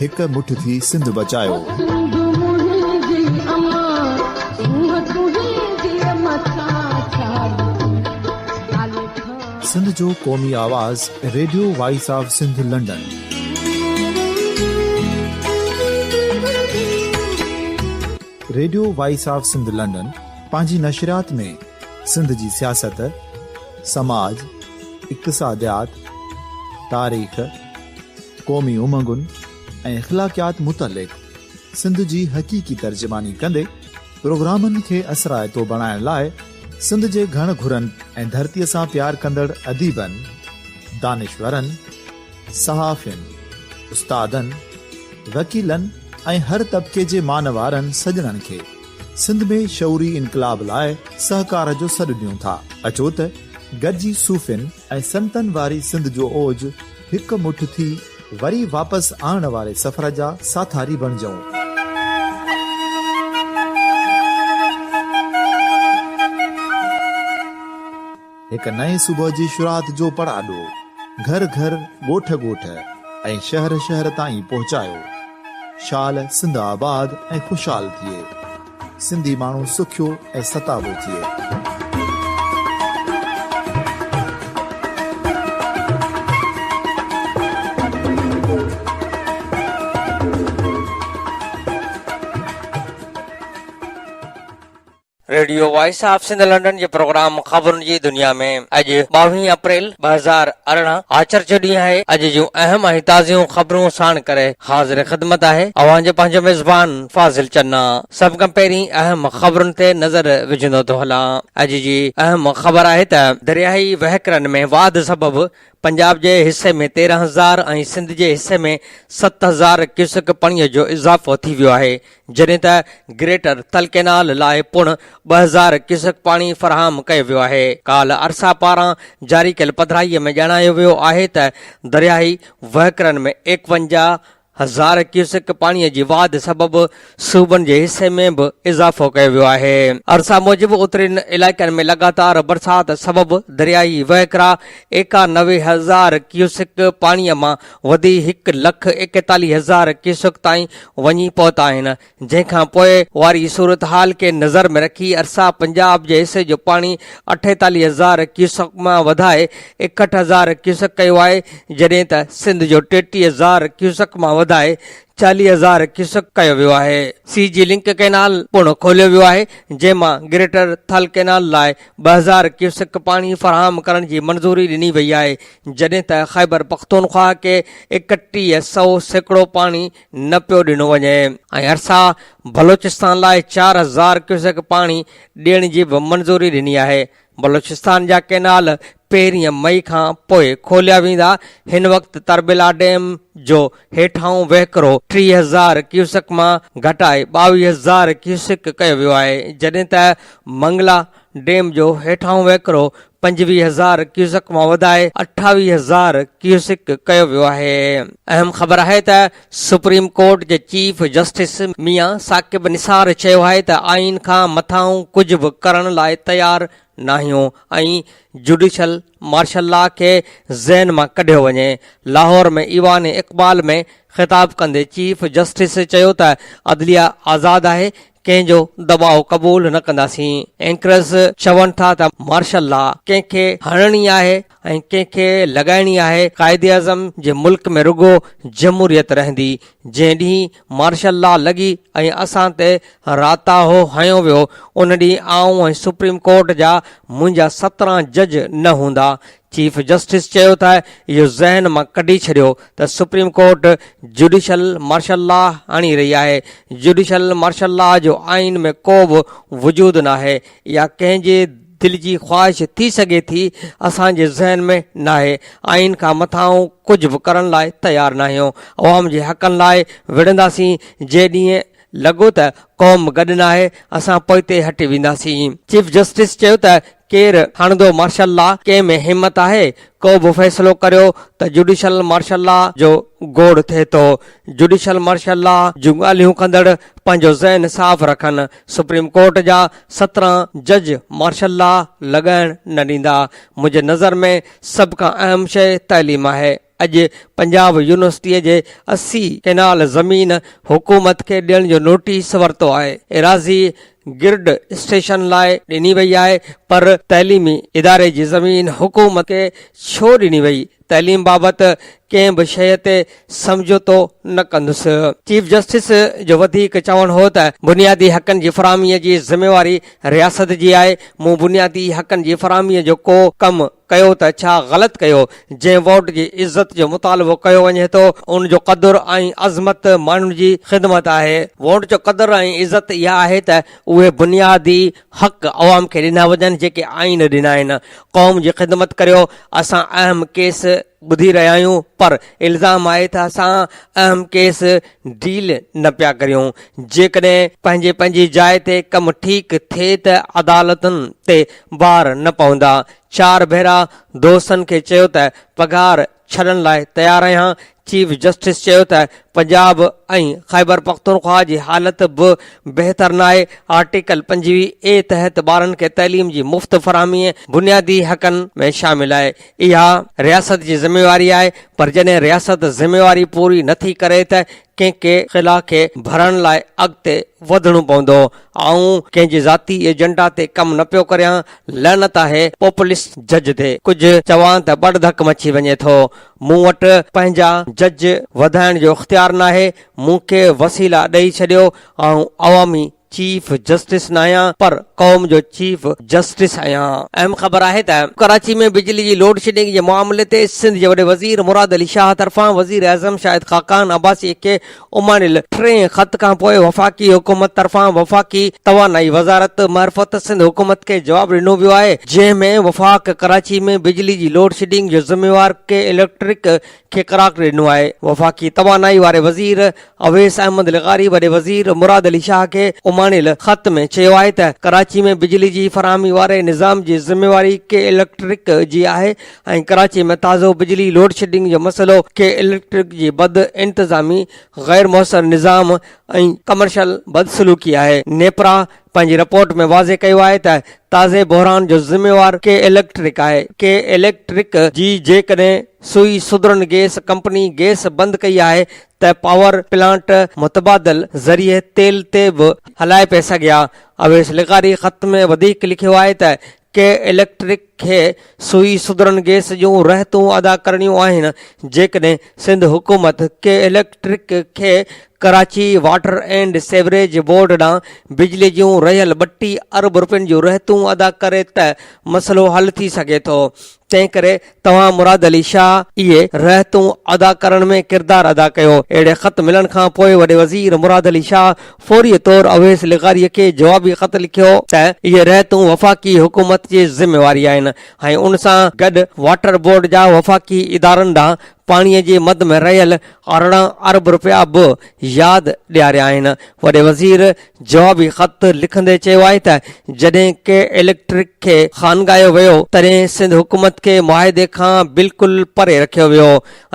هڪ مٺ ٿي سنڌ بچايوسنڌ جو قومي آواز radio voice of Sindh London radio voice of Sindh London پنهنجي نشريات ۾ سنڌ جي سياست سماج اقتصاديات تاريخ قومي امنگن ۽ اخلاقيات متعلق سنڌ جي حقيقي ترجماني ڪندي پروگرامن کي اثرائتو بڻائڻ لاء سنڌ جي گهڻ گهرن ۽ ڌرتي سان پيار ڪندڙ اديبن، دانشورن، صحافين، استادن، وڪيلن ۽ هر طبقي جي مانوارن سڄڻن کي سنڌ ۾ شعوري انقلاب لاء سهڪار جو سڏ ڏيون ٿا. اچو ته گڏجي صوفين ۽ سنتن واري سنڌ جو اوج هڪ مٺ ٿي وري واپس آڻڻ واري سفر جا ساٿاري بڻجئون. هڪ نئين صبح جي شروعات جو پڙاڏو گهر گهر، ڳوٺ ڳوٺ ۽ شهر شهر تائين پهچايو. شال سنڌ آباد ۽ خوشحال ٿئي. سنڌي ماڻهو سکيو ۽ ستابو ٿئي. Radio voice of Sindh London جي پروگرام خبرن جي دنيا ۾ اڄ ٻاوهين اپريل ٻه هزار ارڙهن آچر جو ڏينهن آهي اڄ جون اهم ۽ تازيون خبرون ساڻ ڪري حاضر خدمت آهي اوهان جو پنهنجو ميزبان فاضل چنا، سڀ کان پهرين اهم خبرن تي نظر وجهندو ٿو هلان. اڄ جي اهم خبر آهي ته درياهي وهڪرن ۾ واڌ سبب پنجاب جي حصي ۾ تيرهن هزار ۽ سنڌ جي حصي ۾ ست هزار ڪيوسڪ پڻي جو اضافو ٿي ويو آهي جڏهن ته گريٽر تل ڪينال لاء پڻ ٻه هزار ڪيوسڪ پاڻي فراهم ڪيو ويو آهي. ڪالهه ارسا پاران جاري ڪيل پڌرائي ۾ ڄاڻايو ويو آهي ته درياهي وهڪرن ۾ ايڪونجاهه هزار ڪيوسڪ پاڻي جي واڌ سبب صوبن جي حصي ۾ به اضافو ڪيو ويو آهي ارسا موجب اترين علائقن ۾ لڳاتار برسات سبب درياهي وهڪرا ايڪا نوي هزار ڪيوسڪ پاڻي مان وڌي هڪ لک ايڪيتاليهه هزار ڪيوسڪ تائين وڃي پهتا آهن جنهن کان پوء واري صورتحال کي نظر ۾ رکي ارسا پنجاب جي حصي جو پاڻي اٺيتاليهه هزار ڪيوسڪ مان وڌائي ايڪهٺ هزار ڪيوسڪ ڪيو آهي جڏهن ته سنڌ جو ٽيٽيهه هزار ڪيوسڪ مان وڌائي چاليهه هزار ڪيوسڪ ڪيو ويو آهي. سي جي لنڪ ڪئنال پڻ کوليو ويو آهي جنهن مان گريٽر ٿل ڪئنال لاء ٻه هزار ڪيوسڪ پاڻي فراهم ڪرڻ جي منظوري ڏني وئي آهي جڏهن ته خيبرپختونخواهه کي ايڪٽيهه سئو سيڪڙو پاڻي نه پيو ڏنو وڃي ۽ ارسا بلوچستان لاء چار هزار ڪيوسڪ پاڻي ڏيڻ جي به منظوري ڏني آهي، بلوچستان جا ڪئنال پهرين مئي کان پوء کوليا ويندا، هن وقت تربيلا ڊيم جو هيٺاهون وهڪرو ٽيهه هزار ڪيوسڪ مان گهٽائي ٻاويهه هزار ڪيوسڪ ڪيو ويو آهي، جڏهن ته منگلا ڊيم جو هيٺاهون وهڪرو پنجويهه هزار ڪيوسڪ مان وڌائي اٺاويهه هزار ڪيوسڪ ڪيو ويو آهي اهم خبر آهي ته سپريم ڪورٽ جي چيف جسٽس ميان ثاقب نثار چيو آهي ته آئين کان مٿانهون ڪجهه به ڪرڻ لاء تيار ناهيون ۽ جوڊيشل مارشل لا کي ذهن مان ڪڍيو وڃي لاهور ۾ ايوان اقبال ۾ خطاب ڪندي چيف جسٽس چيو ته عدليه آزاد آهي ڪنهن جو دٻاء قبول نه ڪنداسين، اينڪرز چون ٿا ته مارشل لا ڪنهن کي هڻڻي آهي ۽ ڪنهن کي لڳائڻي آهي، قائداعظم جي ملڪ ۾ رڳو جمهوريت رهندي، جنهن ڏينهن مارشل لا لڳي ۽ اسان تي راتاهو هنيو ويو ان ڏينهن آئون ۽ سپريم ڪورٽ جا منهنجا سترهن جج نه هوندا، چيف جسٽس چيو ته اهو ذهن مان ڪڍي ڇڏيو ته Supreme Court judicial martial law آڻي رهي آهي، جڊيشل مارشل لا جو آئين ۾ ڪو به وجود ناهي، اها ڪنهن جي دل جي خواهش ٿي سگهي ٿي، اسان جي ذهن ۾ ناهي، آئين کان مٿان آئون ڪجهه به ڪرڻ لاء تيار ناهيون، عوام جي حقن لاء وڙهنداسين جي ڏينهن لڳو ته قوم گڏ ناهي، اسان پوئتي هٽي وينداسين. چيف جسٽس چيو ته ڪير هڻندو مارشل لا، ڪنهن ۾ همت آهي ڪو به فيصلو ڪريو ته جوڊيشل مارشل لا جو گوڙ ٿئي ٿو. جوڊيشل مارشل لا جون ڳالهيون ڪندڙ پنهنجو ذهن صاف رکن، سپريم ڪورٽ جا سترهن جج مارشل لا لڳائڻ نه ڏيندا. منهنجي نظر ۾ سڀ کان اهم شيء تعليم آهي. اڄ پنجاب يونيورسٽيء جي اسي ڪينال زمين حڪومت کي ڏيڻ جو نوٽيس ورتو آهي. ايراضي گرڊ اسٽيشن لاء ڏني وئي آهي پر تعليمي اداري جي زمين حڪومت کي ڇو ڏني وئي؟ تعليم بابت ڪنهن به شيء تي سمجهوتو نه ڪندس. چيف جسٽس جو وڌيڪ چوڻ هو ته بنيادي حقن جي فراهمي جي ذميواري رياست جي آهي، مون بنيادي حقن جي فراهمي جو ڪو ڪم ڪيو ته ڇا غلط ڪيو؟ جنهن ووٽ جي عزت جو مطالبو ڪيو وڃي ٿو ان جو قدر ۽ عظمت ماڻهن جي خدمت آهي. ووٽ جو قدر ۽ عزت اها آهي ته اهي بنيادي حق عوام کي ڏنا وڃن جيڪي آئين ڏنا آهن. قوم جي خدمت ڪريو. اسان اهم ڪيس ٻڌي رهيا آهيون پر الزام آهي ته اسان اهم ڪيس ڊيل نه پيا ڪريون. جيڪڏهن پنهنجي پنهنجي جاء تي ڪم ٺيڪ ٿئي ته عدالتن تي وار نه پوندا. چار ڀيرا دوستن کي چيو ته پگهار ڇڏڻ لاء تيار آهيان، چيف جسٽس چيو ته پنجاب ۽ خيبرپختونخواهه جي حالت به بهتر ناهي، آرٽيڪل پنجويهه اي تحت ٻارن کي تعليم جي مفت فراهمي بنيادي حقن ۾ شامل آهي، اها رياست جي ذميواري آهي پر جڏهن رياست ذميواري پوري نٿي ڪري ته ڪنهن ڪي خلا کي ڀرڻ لاء اڳتي وڌڻو پوندو آئون ڪنهن جي ذاتي ايجنڊا تي ڪم نه پيو ڪريان لعنت آهي پوپلسٽ جج تي ڪجهه چوان ته ٻڙ ڌڪ مچي وڃي ٿو مون وٽ پنهنجا جج وڌائڻ جو اختيار ناهي مون کي وسيلا ڏئي ڇڏيو آئون عوامي چيف جسٽس ناهيان پر قوم جو چيف جسٽس آهيان. اهم خبر آهي ته ڪراچي ۾ بجلي جي لوڊشيڊنگ جي معاملي تي سنڌ جي وڏي وزير مراد علي شاهه طرفان وزيراعظم شاهد خاقان عباسي کي اماڻيل ٽئين خط کانپوء وفاقي حڪومت طرفان وفاقي توانائي وزارت معرفت سنڌ حڪومت کي جواب ڏنو ويو آهي جنهن ۾ وفاق ڪراچي ۾ بجلي جي لوڊشيڊنگ جو ذميوار ڪي اليڪٽرڪ کي قرار ڏنو آهي وفاقي توانائي واري وزير اويس احمد لغاري وڏي وزير مراد علي شاهه کي اماڻيل خط ۾ چيو آهي ته ڪراچي ۾ بجلي جي فراهمي واري نظام جي ذميواري ڪي اليڪٽرڪ جي آهي ۽ ڪراچي ۾ تازو بجلي لوڊشيڊنگ جو مسئلو ڪي اليڪٽرڪ جي بد انتظامي غير موثر نظام ۽ ڪمرشل بدسلوڪي آهي نيپرا پنهنجي رپورٽ ۾ واضح ڪيو آهي ته تازي بحران جو ذميوار ڪي اليڪٽرڪ آهي، ڪي اليڪٽرڪ جي جيڪڏهن Sui southern gas company gas بند ڪئي آهي ته پاور پلانٽ متبادل ذريعي تيل تي به هلائي پئي سگهيا اويس لغاري خط ۾ وڌيڪ لکيو آهي ته ڪي اليڪٽرڪ کي سوئي سڌرن گيس جون رهتون ادا ڪرڻيون آهن جيڪڏهن سنڌ حڪومت ڪي اليڪٽرڪ کي Karachi water and sewerage board ڏانهن بجلي جون رهيل ٻٽي ارب رپين جون رهتون ادا ڪري ته مسئلو حل ٿي سگهي ٿو تنهن ڪري توهان مراد علي شاهه اهي رهتون ادا ڪرڻ ۾ ڪردار ادا ڪيو. اهڙي خط ملڻ کان پوء وڏي وزير مراد علي شاهه فوري طور اويس لغاري کي جوابي خط لکيو ته اهي رهتون وفاقي حڪومت جي ذميواري آهن ۽ ان سان گڏ واٽر بورڊ جا وفاقي ادارن ڏانهن پاڻي جي مد ۾ رهيل ارڙهن ارب رپيا به ياد ڏياريا آهن. وڏي وزير جوابي خط لکندي چيو آهي ته جڏهن ڪي اليڪٽرڪ کي خانگايو ويو تڏهن سنڌ حڪومت کي معاهدي کان بلڪل پري رکيو ويو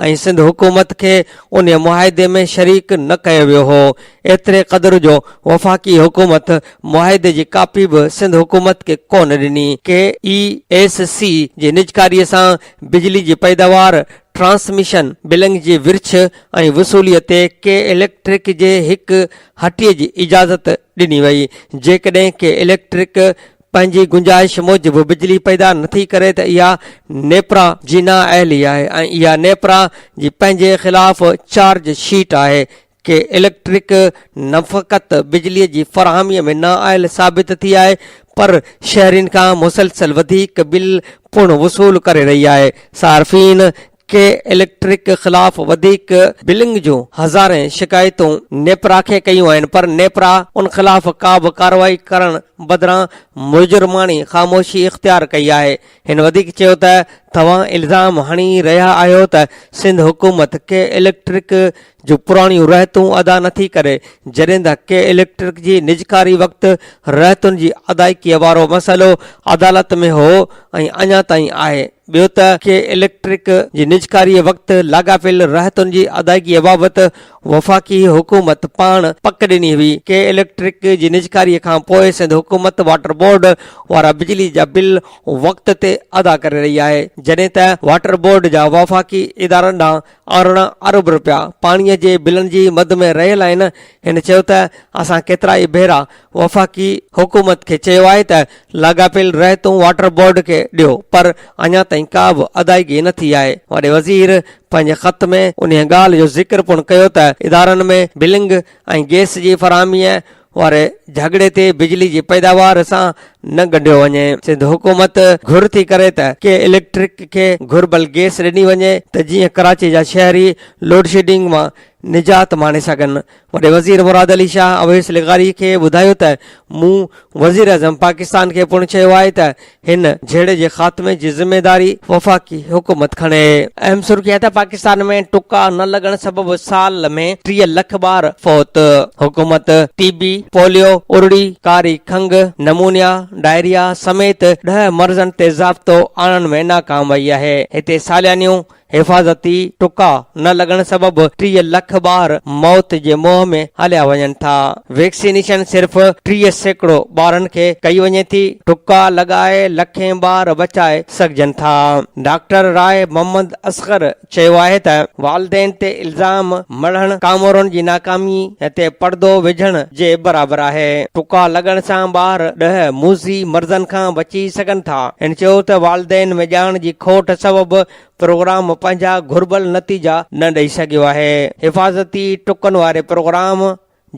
۽ سنڌ حڪومت کي ان معاهدي ۾ شريڪ نه ڪيو ويو هو ايتري قدر جو وفاقي حڪومت معاهدي جي ڪاپي به سنڌ حڪومت کي ڪونه ڏني ڪي اي ايس سي جي نجڪاري سان بجلي جي پيداوار ٽرانسميشن بلنگ جي ورڇ ۽ وصولي تي ڪي اليڪٽرڪ جي هڪ هٽي جي اجازت ڏني وئي، جيڪڏهن ڪي اليڪٽرڪ پنهنجي گنجائش موجب بجلي پيدا نٿي ڪري ته اها نيپرا جي نااهلي آهي ۽ اها نيپرا جي پنهنجي خلاف چارج شيٽ آهي، ڪي اليڪٽرڪ نه فقط بجلي جي فراهمي ۾ نااهل ثابت ٿي آهي پر شهرين کان مسلسل وڌيڪ بل پڻ وصول ڪري رهي آهي، صارفين. ڪي اليڪٽرڪ خلاف وڌيڪ بلنگ جون هزارين شڪايتون نيپرا کي ڪيون آهن پر نيپرا ان خلاف ڪا به ڪارروائي ڪرڻ بدران مجرماڻي خاموشي اختيار ڪئي آهي هن وڌيڪ چيو ته توهان الزام هڻي رهيا آهيو ته سنڌ حڪومت ڪي اليڪٽرڪ جو پراڻيون رهتون ادا نه ٿي ڪري، جڏهن ته ڪي اليڪٽرڪ جي نجڪاري وقت رهتن جي ادائيگيء وارو مسئلو عدالت ۾ هو ۽ اڃا تائين آهي، ٻيو ته ڪي اليڪٽرڪ جي نجڪاري وقت لاڳاپيل رهتن جي ادائيگيء بابت وفاقي حڪومت پاڻ پڪ ڏني هئي، ڪي اليڪٽرڪ جي نجڪاري کان پوء سنڌ حڪومت واٽر بورڊ وارا بجلي جا بل وقت تي ادا ڪري رهي آهي، جڏهن ته واٽر بورڊ جا وفاقي ادارن ڏانهن ارڙهن ارب رپيا پاڻي جي بلن جي مد ۾ رهيل آهن، هن چيو ته اسان ڪيترا ئي ڀيرا وفاقي حڪومت کي چيو آهي ته لاڳاپيل رعيتون واٽر بورڊ کي ڏيو پر اڃا تائين ڪا به ادائيگي نه ٿي آهي، وڏي وزير پنهنجي خط ۾ انهي ڳالهه جو ذڪر پڻ ڪيو ته ادارن ۾ بلنگ ۽ گئس جي فراهمي واري جهڳڙي تي بجلي جي پيداوار سان نه ڳنڍيو وڃي، سنڌ حڪومت گهر ٿي ڪري ته ڪي اليڪٽرڪ کي گهربل گيس ڏني وڃي ته جيئن ڪراچي جا شهري لوڊشيڊنگ مان نجات ماڻي سگهن، وڏي وزير مراد علي شاهه اويس لغاري کي ٻڌايو ته مون وزيراعظم پاڪستان کي پڻ چيو آهي ته هن جهيڙي جي خاتمي جي ذميواري وفاقي حڪومت کڻي. اهم سرخي آهي ته پاڪستان ۾ ٽڪا نه لڳڻ سبب سال ۾ ٽيهه لک ٻار فوت، حڪومت ٽي بي، پوليو، ارڙي، ڪاري کنگهه، نمونيا، ڊائريا سميت ڏهه مرضن تي ضابطو آڻڻ ۾ ناڪام وئي آهي، هتي ساليانيون حفاظتي ٽڪا نه لڳڻ سبب ٽيهه لک ٻار موت جي منهن ۾ هليا وڃن ٿا، ويڪسينيشن صرف ٽيهه سيڪڙو ٻارن کي ڪئي وڃي ٿي، ٽڪا لڳائي لکين ٻار بچائي سگهجن ٿا، ڊاڪٽر راء محمد اصغر چيو آهي ته والدين تي الزام مڙهڻ ڪامورن جي ناڪامي تي پڙدو وجهڻ جي برابر آهي. ٽڪا لڳڻ سان ٻار ڏهه موذي مرضن کان بچي سگهن ٿا. هن چيو ته والدين ۾ ڄاڻ جي کوٽ سبب پروگرام پنهنجا گهربل نتيجا نه ڏئي سگهيو آهي. حفاظتي ٽڪن واري پروگرام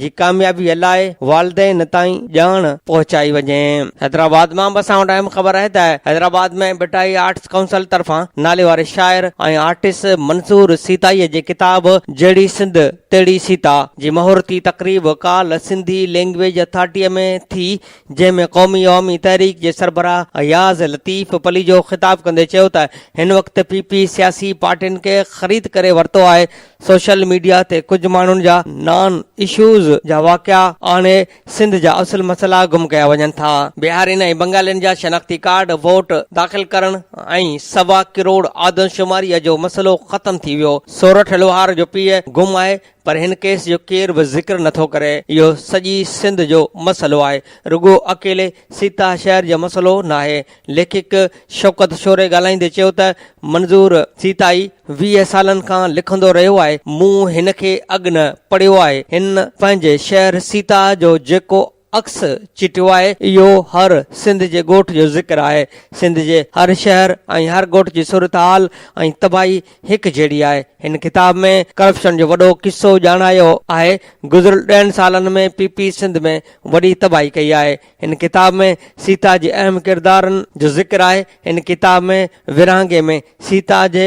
جي ڪاميابيء لاء والدين تائين ڄاڻ پهچائي وڃي. حيدرآباد مان به اسان وٽ اهم خبر آهي ته حيدرآباد ۾ ڀٽائي آرٽس ڪائونسل طرفان ناليواري شاعر ۽ آرٽسٽ منصور سيتائيء جي ڪتاب جهڙي سنڌ تهڙي سيتا جي مهورتي تقريب ڪالهه سنڌي لئنگويج اٿارٽيء ۾ ٿي جنهن ۾ قومي عوامي تحريڪ جي سربراهه اياز لطيف پليجو خطاب ڪندي چيو ته هن وقت پي پي سياسي پارٽين کي خريد ڪري ورتو آهي سوشل ميڊيا تي ڪجهه ماڻهن جا نان اشوز جا واقعا آڻي سنڌ جا اصل مسئلا گم ڪيا وڃن ٿا. بهارين ۽ بنگالين جا شناختي ڪارڊ، ووٽ داخل ڪرڻ ۽ سوا ڪروڙ آدمشماريء جو مسئلو ختم ٿي ويو. سورٺ لوهار جو پيء گم آهي پر هن ڪيس جو ڪير به ذڪر نه ٿو ڪري. اهو سڄي سنڌ جو مسئلو آهي. رڳو اڪيلي سيتا شهر جو مسئلو ناهي. ليکڪ شوڪت شوري ڳالهائيندي چيو ته منظور سيتائي ويهه سالن کان لکندو رهيو آهي، مون هن کي اڳ نه پڙهيو آهي، هن پنهنجي شهر سيتا جو جيڪو عڪس چٽيو آهي، اهو هر سنڌ جي ڳوٺ جو ذڪر آهي، سنڌ جي هر شهر ۽ هر ڳوٺ جي صورتحال ۽ تباهي هڪ جهڙي آهي، هن ڪتاب ۾ ڪرپشن جو وڏو قصو ڄاڻايو آهي، گذريل ڏهن سالن ۾ پي پي سنڌ ۾ وڏي تباهي ڪئي آهي، هن ڪتاب ۾ سيتا جي اهم ڪردارن جو ذڪر آهي. هن ڪتاب ۾ ورهاڱي ۾ سيتا جي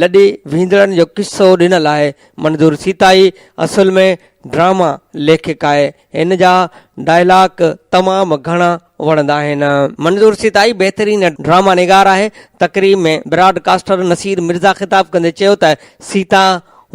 لڏي ويندڙن جو قصو ڏنل آهي. منظور سيتائي اصل ۾ ڊراما ليکڪ آهي. هن جا ڊائلاڪ تمام گهڻا وڻندا آهن. منظور سيتائي بهترين ڊراما نگار آهي. تقريب ۾ براڊ ڪاسٽر نصير مرزا خطاب ڪندي چيو ته سيتا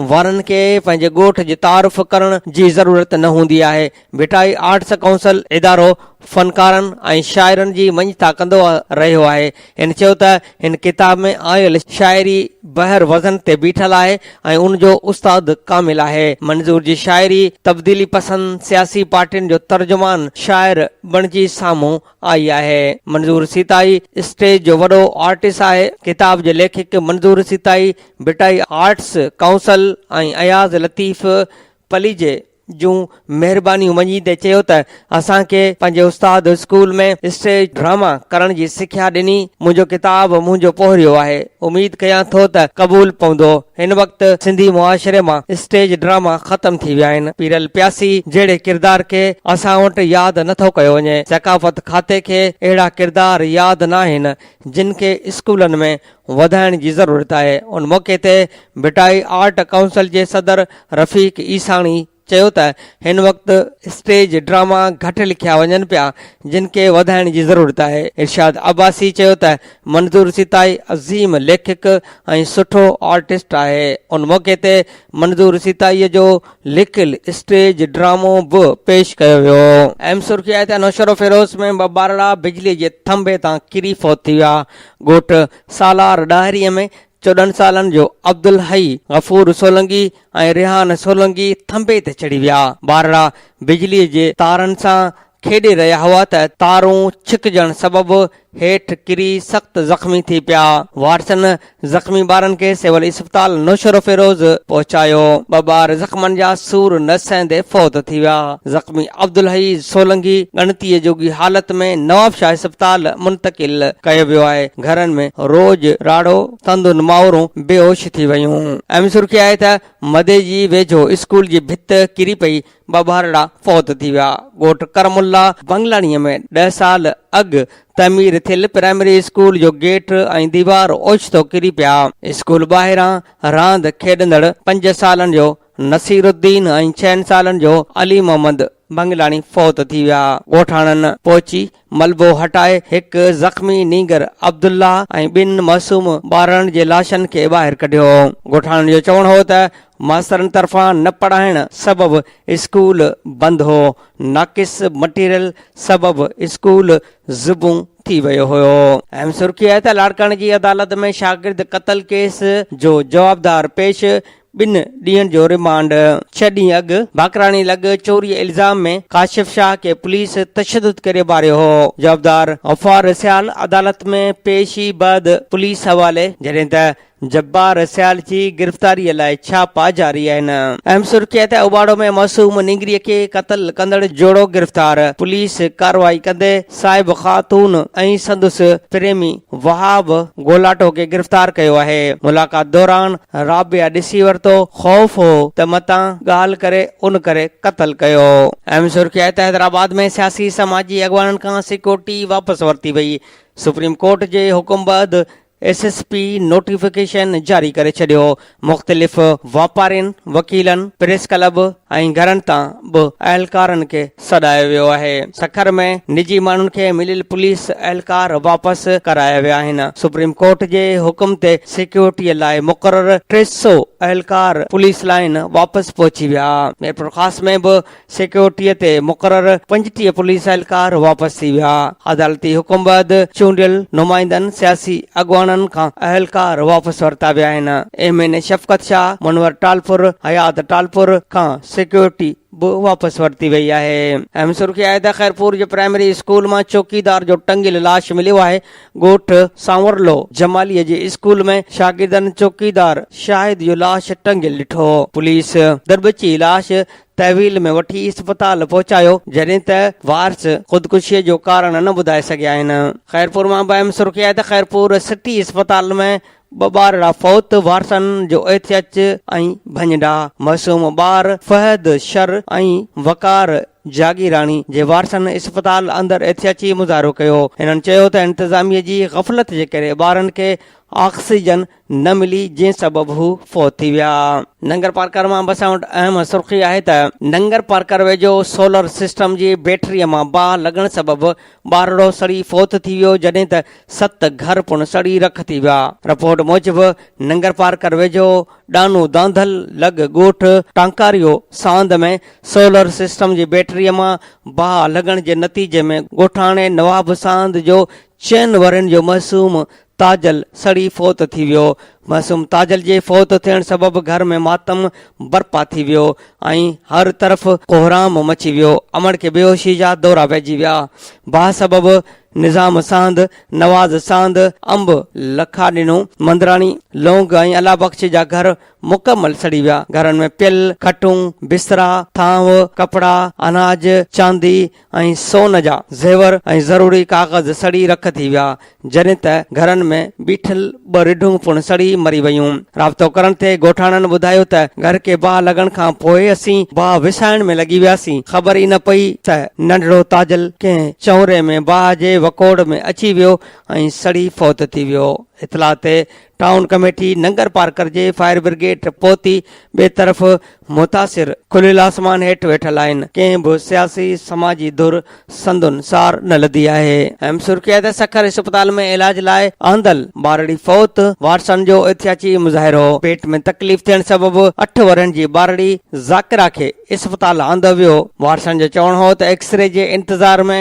وارن کي پنهنجي ڳوٺ جي تعارف ڪرڻ جي ضرورت نه هوندي آهي. ڀٽائي آرٽس ڪائونسل ادارو فنڪارن ۽ شاعرن جي مڃتا ڪندو رهيو آهي. هن چيو ته هن ڪتاب ۾ آيل شاعري بحر وزن تي بيٺل آهي ۽ ان جو استاد ڪامل آهي. منظور جي شاعري تبديلي پسند سياسي پارٽين جو ترجمان شاعر بڻجي سامهون آئي آهي. منظور سيتائي اسٽيج جو وڏو آرٽس آهي. ڪتاب جي ليکڪ منظور سيتائي ڀٽائي آرٽس ڪائونسل ۽ اياز لطيف پليجي، جون مهربانيون مڃيندي چيو ته اسان کي پنهنجي استاد اسڪول ۾ اسٽيج ڊراما ڪرڻ جي سکيا ڏني منهنجو ڪتاب منهنجو پوهريو آهي اميد ڪيان ٿو ته قبول پوندو هن وقت سنڌي معاشري مان اسٽيج ڊراما ختم ٿي ويا آهن پيرل پياسي جهڙي ڪردار کي اسان وٽ ياد نٿو ڪيو وڃي ثقافت کاتي کي اهڙا ڪردار ياد ناهن جن کي اسڪولن ۾ وڌائڻ جي ضرورت آهي ان موقعي تي ڀٽائي آرٽ ڪائونسل جي صدر رفيق عيساڻي چيو ته هن وقت اسٽيج ڊراما گهٽ لکيا وڃن پيا جن کي وڌائڻ جي ضرورت آهي ارشاد عباسي چيو ته منظور سيتائي عظيم ليکڪ ۽ سٺو آرٽسٽ آهي ان موقعي تي منظور سيتائي جو لکيل اسٽيج ڊرامو به پيش ڪيو ويو ايم سرخي آهي ته نوشهروفيروز ۾ ٻه ٻارڙا بجلي جي ٿنڀي تان ڪري فوت ٿي ويا ڳوٺ سالار ڏاهري ۾ چوڏهن سالن جو عبدالحئي، غفور سولنگي ۽ ريحان سولنگي ٿنڀي تي چڙهي ويا. ٻارڙا بجلي جي تارن سان کيڏي رهيا هئا ته تارون ڇڪجڻ سبب هيٺ ڪري سخت زخمي ٿي پيا. وارثن زخمي ٻارن کي سول اسپتال نوشهروفيروز پهچايو، ٻه ٻار زخمن جا سور نه سهندي فوت ٿي ويا، زخمي عبدالحئي سولنگي ڳڻتيء جوڳي حالت ۾ نوابشاهه اسپتال منتقل ڪيو ويو آهي، گهرن ۾ روڄ راڙو سندن مائورون بيهوش ٿي ويون، اهم سرخي آهي ته مدي جي ويجهو اسڪول جي ڀت ڪري پئي، ٻه ٻارڙا فوت ٿي ويا. ڳوٺ ڪرم الله بنگلاڻيء ۾ ڏهه سال اڳ تعمير ٿيل پرائمري اسڪول جو گيٽ ۽ ديوار اوچتو ڪري پيا. اسڪول ٻاهران راند کيڏندڙ پنج سالن جو نصير الدين ۽ ڇهن سالن جو علي محمد بنگلاڻي فوت ٿي ويا. ڳوٺاڻن پهچي ملبو هٽائي هڪ زخمي نينگر عبدالله ۽ ٻن معصوم ٻارڙن جي لاشن کي ٻاهر ڪڍيو. ڳوٺاڻن جو چوڻ هو ته ماسترن طرفان نه پڙهائڻ سبب اسڪول بند هو، ناقص مٽيريل سبب اسڪول زبون ٿي ويو هيو. اهم سرخي آهي ته لاڙڪاڻي جي عدالت ۾ شاگرد قتل ڪيس جو جوابدار پيش ٻن ڏينهن جو ريمانڊ، ڇهه ڏينهن اڳ باقراڻي لڳ چوري الزام ۾ ڪاشف شاهه کي پوليس تشدد ڪري ماريو هو، جوابدار غفار سيال عدالت ۾ پيش ئي بعد پوليس حوالي، جڏهن ته جبار سيال جي گرفتاري لاء ڇاپا جاري آهن. اهم سرخي آهي ته اوٻاڙو ۾ معصوم نينگري کي قتل ڪندڙ جوڙو گرفتار، پوليس ڪارروائي ڪندي صاحب خاتون ۽ سندس پريمي وهاب گولاٽو کي گرفتار ڪيو آهي، ملاقات دوران رابعه ڏسي ورتو، خوف هو ته متان ڳالهه ڪري ان ڪري قتل ڪيو. اهم سرخي آهي ته حيدرآباد ۾ سياسي سماجي اڳواڻن کان سيڪيورٽي واپس ورتي وئي، سپريم ڪورٽ جي حڪم بعد ايس ايس پي نوٽيفڪيشن جاري ڪري ڇڏيو، مختلف واپارين، وڪيلن، پريس ڪلب ۽ گهرن تان به اهلڪارن کي سڏايو ويو آهي، سکر ۾ نجي ماڻهن کي مليل پوليس اهلڪار واپس ڪرايا ويا آهن، سپريم ڪورٽ جي حڪم تي سيڪيورٽي لاء مقرر ٽي سؤ اهلڪار پوليس لائين واپس پهچي ويا، ميرپورخاص ۾ به سيڪيورٽيء تي مقرر پنجٽيهه پوليس اهلڪار واپس ٿي ويا. عدالتي حڪم بعد چونڊيل نمائندن، سياسي اڳواڻن کان اهلڪار واپس ورتا ويا آهن. M N A Shafqat Shah, Munawar Talpur, Hayat Talpur کان سيڪيورٽي به واپس ورتي وئي آهي. اهم سرخي آهي ته خيرپور جي پرائمري اسڪول مان چوڪيدار جو ٽنگيل لاش مليو آهي. ڳوٺ سانورلو جماليء جي اسڪول ۾ شاگردن چوڪيدار شاهد جو لاش ٽنگيل ڏٺو. پوليس دربچي لاش تحويل ۾ وٺي اسپتال پهچايو جڏهن ته وارث خودڪشي جو ڪارڻ نه ٻڌائي سگهيا آهن خيرپور مان به اهم سرخي آهي ته خيرپور سٽي اسپتال ۾ ٻه ٻارڙا فوت وارثن جو ايڇ ايڇ ۽ ڀڃڊا معصوم ٻار فهد شر ۽ وقار جاگيراڻي جي وارثن اسپتال اندر احتجاجي مظاهرو ڪيو هنن چيو ته انتظاميه جي غفلت جي ڪري ٻارن کي آڪسيجن نه ملي جنهن سبب هو فوت ٿي ويا. ننگر پارڪر مان بسان وٽ اهم سرخي آهي ته ننگر پارڪر ويجهو سولر سسٽم جي بيٽري مان باهه لڳڻ سبب ٻارڙو سڙي فوت ٿي ويو جڏهن ته ست گهر پڻ سڙي رک ٿي ويا. رپورٽ موجب ننگر پارڪر ويجهو ڏانو دانڌل لڳ ڳوٺ ٽانڪاريو ساند ۾ سولر سسٽم جي بيٽري مان باهه لڳڻ جي نتيجي ۾ ڳوٺاڻي نواب ساند جو چئن ورهين جو معصوم تاجل سڙي فوت ٿي ويو. معصوم تاجل جي فوت ٿيڻ سبب گهر ۾ ماتم برپا ٿي ويو ۽ هر طرف ڪوهرام مچي ويو. امڙ کي بيهوشي جا دورا پئجي ويا. باهه سبب نظام ساند، نواز ساند، انب، لکا ڏنو، مندراڻي، لونگ ۽ الله بخش جا گهر مڪمل سڙي ويا. گهرن ۾ پيل، کٽون، بسترا، ٿانو، ڪپڙا، اناج، چاندي، ۽ سون جا زيور ۽ ضروري ڪاغذ سڙي رک ٿي ويا، جڏھن ته گھرن ۾ بيٺل ٻه رڍون پڻ سڙي مري ويون. رابطو ڪرڻ تي ڳوٺاڻن ٻڌايو ته گھر کي باھ لڳڻ کان پوء اسين باھ وسائڻ ۾ لڳي وياسين، خبر ئي نه پئي ته ننڍڙو تاجل ڪنھن چؤنري ۾ باھ جي وڪوڙ ۾ اچي ويو ۽ سڙي فوت ٿي ويو. اطلاع تي ٽائون ڪميٽي ننگرپارڪر جي فائر برگيڊ پهتي ٻئي طرف متاثر کليل آسمان هيٺ ويٺل آهن ڪنهن به سياسي سماجي ڌر سندن سار نه لڌي آهي. اهم سرخي آهي ته سکر اسپتال ۾ علاج لاء آندل ٻارڙي فوت، وارثن جو احتياجي مظاهرو. پيٽ ۾ تڪليف ٿيڻ سبب اٺ ورهين جي ٻارڙي ذاڪرا کي اسپتال آندو ويو، وارثن جو چوڻ هو ته ايڪسري جي انتظار ۾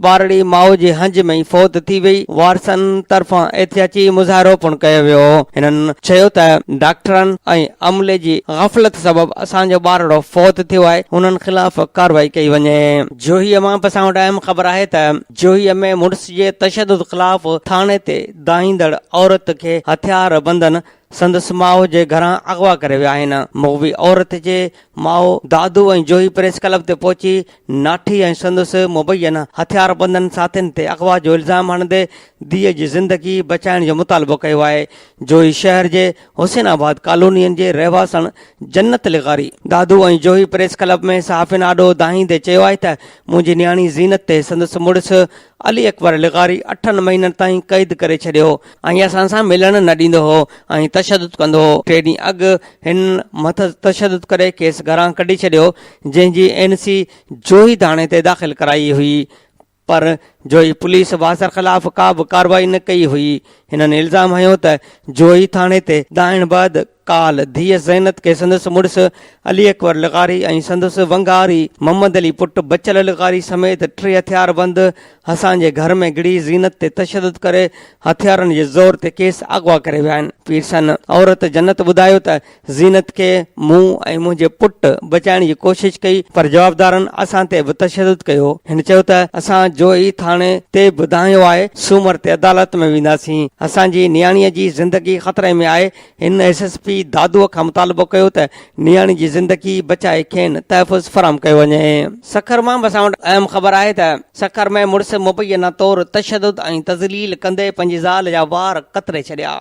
ٻارڙي ماء جي هنج ۾ ئي فوت ٿي وئي، وارثن طرفان احتياجي مظاهرو پڻ ڪيو ويو، هنن چيو ته ڊاڪٽرن ۽ عملي جي غفلت سبب اسان جو ٻارڙو فوت ٿيو آهي، هنن خلاف ڪارروائي ڪئي وڃي. جوهي مان به اسان وٽ اهم خبر آهي ته جوهي ۾ مڙس جي تشدد خلاف ٿاڻي تي دانهيندڙ عورت کي هٿيار بندن سندس ماء جي گهران اغوا ڪري ويا آهن. مغوي عورت جي ماء، دادو ۽ جوهي پريس ڪلب تي پهچي ناٺي ۽ سندس مبين هٿياربندن ساٿين تي اغوا جو الزام هڻندي ڌيء جي زندگي بچائڻ جو مطالبو ڪيو آهي. جوهي شهر جي حسين آباد ڪالونين جي رهواسڻ جنت لغاري دادو ۽ جوهي پريس ڪلب ۾ صحافين آڏو دانهيندي چيو آهي ته منهنجي نياڻي زينت تي سندس مڙس علي اڪبر لغاري اٺن مهينن تائين قيد ڪري ڇڏيو ۽ اسان سان ملڻ نه ڏيندو هو ۽ تشدد ڪندو هو. ٽي ڏينهن اڳ هن مٿس تشدد ڪري کيس گهران ڪڍي ڇڏيو جنهن جي اين سي جوهي ٿاڻي تي داخل ڪرائي هئي پر جوهي پوليس واصر خلاف ڪا به ڪارروائي نه ڪئي هئي. هنن الزام هنيو ته جوهي ٿاڻي تي دانهن بعد ڪالهه ڌيء زينت کي سندس مڙس علي اڪبر لغاري ۽ سندس ونگاري محمد علي پٽ بچل لغاري سميت ٽي هٿياربند حسان جي گهر ۾ گڙي زينت تي تشدد ڪري هٿيارن جي زور تي کيس اغوا ڪري ويا آهن. پيرسن عورت جنت ٻڌايو ته زينت کي مون ۽ منهنجي پٽ بچائڻ جي ڪوشش ڪئي پر جوابدارن اسان تي به تشدد ڪيو. هن چيو ته اسان جوهي ٿاڻي تي به دانهيو آهي، سومر تي عدالت ۾ وينداسين، اسان جي نياڻيء جي زندگي خطري ۾ آهي، هن ايس ايس پي دادوء کان مطالبو ڪيو ته نياڻي جي زندگي بچائي کين تحفظ فراهم ڪيو وڃي. سکر مان به اسان وٽ اهم خبر آهي ته سکر ۾ مڙس مبينا طور تشدد ۽ تذليل ڪندي پنهنجي زال جا وار ڪتري ڇڏيا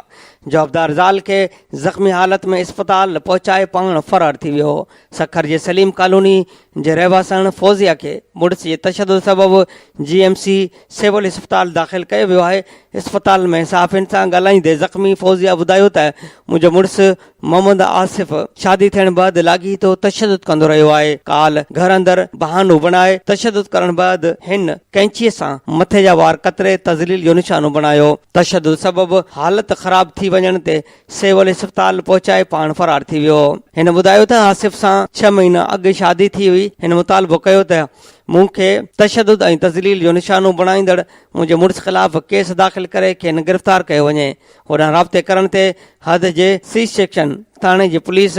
جوابدار زال کي زخمي حالت ۾ اسپتال پهچائي پاڻ فرار ٿي ويو سکر جي سليم ڪالوني جي رهواسڻ فوزيه کي مڙس جي تشدد سبب جي ايم سي سول اسپتال داخل ڪيو ويو آهي اسپتال ۾ صحافين سان ڳالهائيندي زخمي فوزيه ٻڌايو ته منهنجو مڙس محمد آصف شادي ٿيڻ بعد لاڳيتو تشدد ڪندو رهيو آهي ڪالهه گهر اندر بهانو بڻائي تشدد ڪرڻ بعد هن ڪئنچي سان مٿي جا وار ڪتري تذليل جو نشانو بڻايو تشدد سبب حالت خراب ٿي وڃڻ تي سول اسپتال پهچائي پاڻ فرار ٿي ويو. هن ٻڌايو ته آصف سان ڇهه مهينا اڳ شادي ٿي هئي، هن مطالبو ڪيو ته مون کي تشدد ۽ تذليل جو نشانو بڻائيندڙ منهنجي مڙس خلاف ڪيس داخل ڪري کين گرفتار ڪيو وڃي، هوڏانهن رابطي ڪرڻ تي حد جي سي سيڪشن ٿاڻي جي پوليس